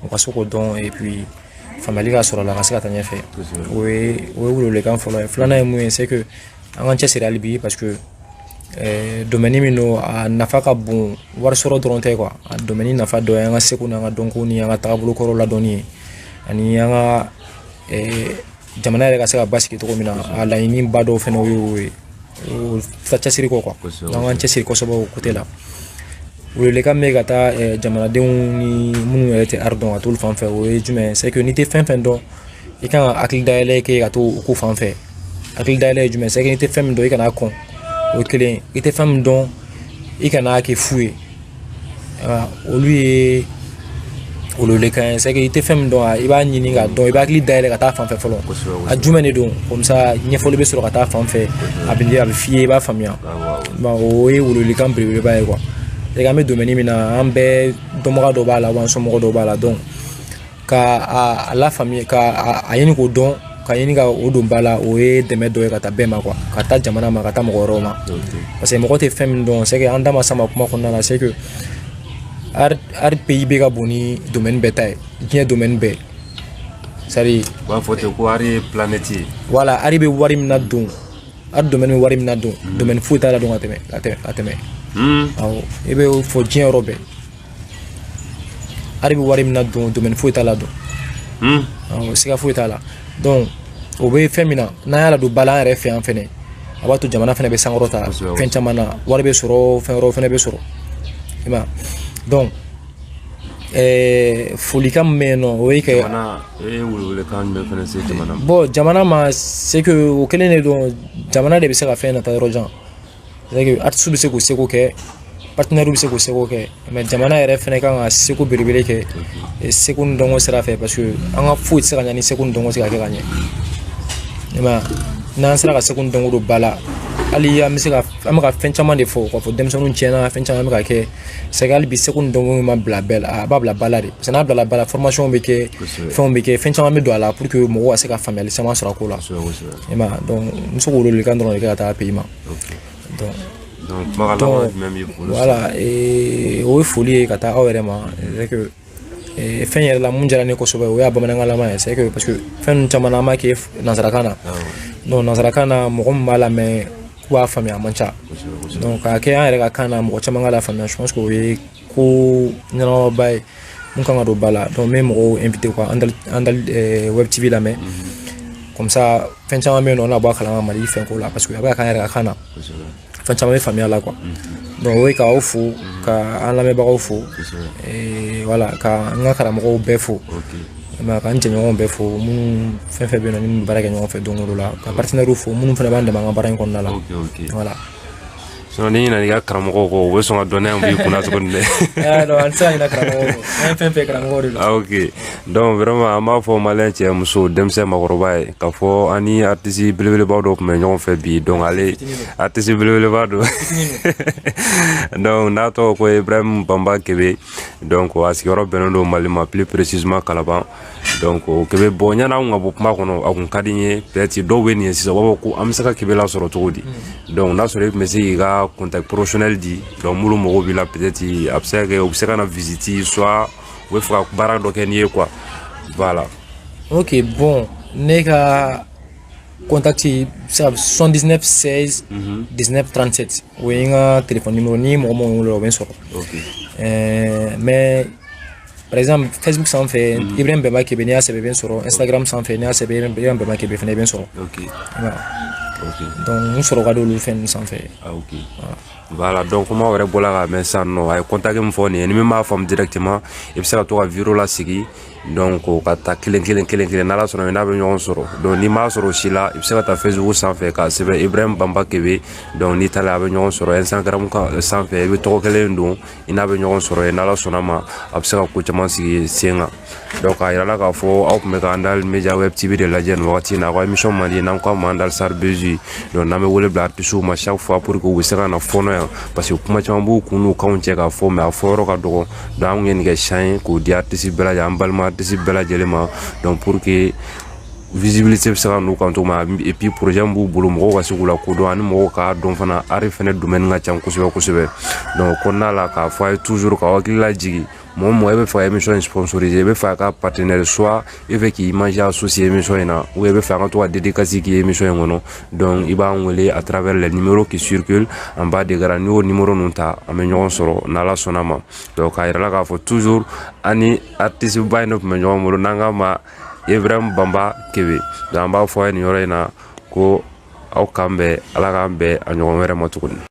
u ka se k'o dɔn et puis faamuyali ka sɔrɔ a la ka se ka taa ɲɛfɛ o ye o ye welewelekan fɔlɔ ye filanan ye mun ye c'est que an k'an cɛsiri hali bi parce que eh, domaine min don a nafa ka bon wari sɔrɔ dɔrɔn tɛ quoi a domaine nafa dɔ ye an ka seko n'an ka dɔnko ni an ka taabolo kɔrɔ ladɔnni ye ani an ka eh, jamana yɛrɛ ka se ka basigi cogo min na a laɲiniba dɔ fɛnɛ y'o ye o ta cɛsiri ko quoi an k'an cɛsiri kosɛbɛ o côté la welewelekan min bɛ ka taa eh, jamanadenw ni minnu yɛrɛ tɛ ari dɔn ka t'olu fan fɛ o ye jumɛn c'est que n'i tɛ fɛn fɛn dɔn i kan ka hakili dayɛlɛ kɛ ka to o ko fan fɛ hakili dayɛlɛ ye jumɛn c'est que n'i tɛ fɛn min dɔn i kan'a kɔn o ye kelen i tɛ fɛn min dɔn i kan'a kɛ fu ye olu ye welewelekan ye c'est que i tɛ fɛn min dɔn i b'a ɲini k'a dɔn i b'a hakili dayɛlɛ ka taa fan fɛ fɔlɔ a jumɛn de don comme ça ɲɛfɔli bɛ sɔrɔ ka taa fan fɛ a bɛ a bɛ f'i ye i b'a faamuya o ye welewelekan belebeleba ye quoi c'est que an bɛ domaine min na an bɛɛ dɔnbaga dɔ b'a la wa an somɔgɔ dɔ b'a la donc ka a lafaamuya ka a ɲini k'o dɔn ka ɲini ka o don ba la o ye dɛmɛ dɔ ye ka taa bɛɛ ma quoi ka taa jamana ma ka taa mɔgɔ wɛrɛw ma parce que mɔgɔ tɛ fɛn min dɔn c'est que an da ma s'a ma kuma kɔnɔna na c'est que art paye bɛ ka bon ni domaine bɛɛ ta ye diɲɛ domaine bɛɛ sari u b'a fɔ ten ko art ye planète ye voilà art bɛ wari min nadon art domaine bɛ wari min nadon domaine foyi t'a ladon ka tɛmɛ ka tɛmɛ ka tɛmɛ awɔ i bɛ fɔ diɲɛ yɔrɔ bɛɛ art bɛ wari min nadon domaine foyi t'a ladon awɔ siga foyi t'a la donc o bɛ fɛn min na n'an y'a ladon ba la an yɛrɛ fɛ yan fɛnɛ a b'a to jamana fɛnɛ bɛ sankɔrɔta kosɛbɛ. fɛn caman na wari bɛ sɔrɔ fɛn wɛrɛw fɛnɛ bɛ sɔrɔ i m'a ye? donc ɛɛ folikan min bɛ yen nɔ o ye ka jamana e ye welewelekan jumɛn fana se jamana ma bon jamana ma c'est que o kelen de don jamana de bɛ se ka fɛn nataa yɔrɔ jan artistes bɛ se k'u seko kɛ partenaires bɛ se k'u seko kɛ mais jamana yɛrɛ fana kan ka seko belebele kɛ eh, seko ni dɔnko sira fɛ parce que an ka foyi tɛ se ka ɲɛ ni seko ni dɔnko tɛ ka kɛ ka ɲɛ i ma n'an sera ka seko ni dɔnko don ba la hali an bɛ se ka an bɛ ka fɛn caman de fɔ k'a fɔ denmisɛnninw tiɲɛna fɛn caman bɛ ka kɛ c'est que hali bi seko ni dɔnko ma bila ba la a b'a bila ba la de parce que n'a bilala ba la formation bɛ kɛ fɛnw bɛ kɛ fɛn caman bɛ don a la pour que mɔgɔw ka se ka faamuyali caman sɔrɔ a ko la i ma donc n bɛ se k'o welewelekan dɔrɔn de kɛ ka taa pays ma donc kumakan laban jumɛn b'i bolo voilà o ye foli ye ka taa aw yɛrɛ ma c'est que fɛn yɛrɛ la mun diyara ne kosɛbɛ o y'a bamanankanlama ye c'est que parce que fɛn ninnu caman na an b'a kɛ nanzarakan na donc nanzarakan na mɔgɔ min b'a lamɛn k'u b'a faamuya a man ca donc k'a kɛ an yɛrɛ ka kan na mɔgɔ caman k'a lafaamuya je pense que o ye ko ɲɛnamaba ye mun kan ka don ba la donc n bɛ mɔgɔw inviter quoi andal andal eh, web tv lamɛn comme ça fɛn caman bɛ yen nɔ an na bɔ a kalama mali fɛnko la parce que a bɛ ka k'an yɛrɛ ka kan na fɛn caman bɛ faamuya la quoi donc o ye ka aw fo ka an lamɛnbagaw fo eh, voilà ka n ka karamɔgɔw bɛɛ fo mais ka n jɛɲɔgɔnw bɛɛ fo minnu fɛn fɛn bɛ yen nɔ ni minnu bɛ baara kɛ ɲɔgɔn fɛ don o don la ka partenaires fo minnu fana b'an dɛmɛ an ka baara in kɔnɔna la voilà n'i ɲinɛna i ka karamɔgɔ kɔ u bɛ sɔn ka dɔnniya bɔ i kunna tuguni dɛ an tɛ se ka ɲinɛ karamɔgɔ kɔ an ye fɛn fɛn ye karamɔgɔ de don ah, ok donc vraiment an b'a fɔ malien cɛ muso denmisɛn makɔrɔba ye k'a fɔ an ni artiste belebeleba dɔ tun bɛ ɲɔgɔn fɛ bi donc ale artiste belebeleba don donc n'a tɔgɔ ko ibrahim bamba kebe donc a sigiyɔrɔ bɛnnen don mali ma plus précisément kalaban donc kebe bon yanni anw ka bɔ kuma kɔnɔ a kun ka di n ye peut-être dɔw bɛ nin ye sisan u b'a fɔ ko an bɛ se ka kebe lasɔrɔ cogo di mm. donc n'a sɔrɔ e tun bɛ se k'i ka contact professionnel di donc minnu mago b'i la peut-être a bɛ se ka kɛ u bɛ se ka na visite soit u bɛ fɛ ka baara dɔ kɛ n'i ye quoi voilà. ok bon ne ka contact bɛ se ka 79 16 19 37 o ye n ka téléphone numéro ni mɔgɔ min y'o wele o bɛ n sɔrɔ. ok ɛɛ mais. par exemple facebook sanfɛ mm. ibrahim bɛnba kebe n'i y'a sɛbɛn i bɛ n sɔrɔ instagram sanfɛ n'i y'a sɛbɛn ibrahim bɛnba kebe fana i bɛ n sɔrɔ okay. voilà. okay. donc n sɔrɔ ka di olu fɛn ninnu sanfɛ ah, okay. voilà. voilà donc comme aw yɛrɛ bɔla k'a mɛn sisan nɔ a ye contact min fɔ nin ye ni min m'a faamu directement i bɛ se ka to ka video lasegin donc o k'a ta kelen kelen kelen kelen n'ala sɔnna i n'a bɛ ɲɔgɔn sɔrɔ donc n'i m'a sɔrɔ o si la i bɛ se ka taa facebook sanfɛ k'a sɛbɛn ibrahim banba kebe donc n'i taara a bɛ ɲɔgɔn sɔrɔ instagram sanfɛ o bɛɛ tɔgɔ kelen don i n'a bɛ ɲɔgɔn sɔrɔ yen n'ala sɔnna ma a bɛ se ka ko caman sigi sen kan donc a yirala k'a fɔ aw tun bɛ ka andal media web tv de lajɛ nin wagati in na aw ka émission mandi n'an k'a ma andal sar bezi donc n'an bɛ wele bila artisiw ma chaque fois pour que u bɛ se ka na fɔɔnɔ yan parce que kuma caman b'u kun n'u kanw cɛ k'a fɔ mais a fɔyɔrɔ ka dɔgɔ donc an ye nin kɛ chance ye k'o di artisi bɛɛ lajɛlen an balima artisi bɛɛ lajɛlen ma donc pour que visibilité bɛ se ka n'u kan cogo min na et puis projet min b'u bolo mɔgɔw ka se k'u lakodɔn ani mɔgɔw k'a dɔn fana art fɛnɛ domaine ka ca kosɛbɛ kosɛbɛ donc kɔnɔna la k'a fɔ a ye toujours k'aw hakili lajigin mɔgɔ o mɔgɔ e bɛ fɛ ka émission in sponsoriser e bɛ fɛ ka partenaire soit e fɛ k'i image associer émission in na ou e bɛ fɛ an ka to ka dédicace k'i ye émission in kɔnɔ donc i b'an wele à travers les numéros qui circulent en bas de l'écran n'i y'o numéro ninnu ta an bɛ ɲɔgɔn sɔrɔ n'ala sɔnna ma donc k'a yira aw la k'a fɔ toujours an ni artiste ba in de tun bɛ ɲɔgɔn bolo n'an k'a ma ibrahim banba kebe donc an b'a fɔ a ye nin yɔrɔ in na ko aw k'an bɛn ala k'an bɛn a ɲɔgɔn wɛrɛ ma tuguni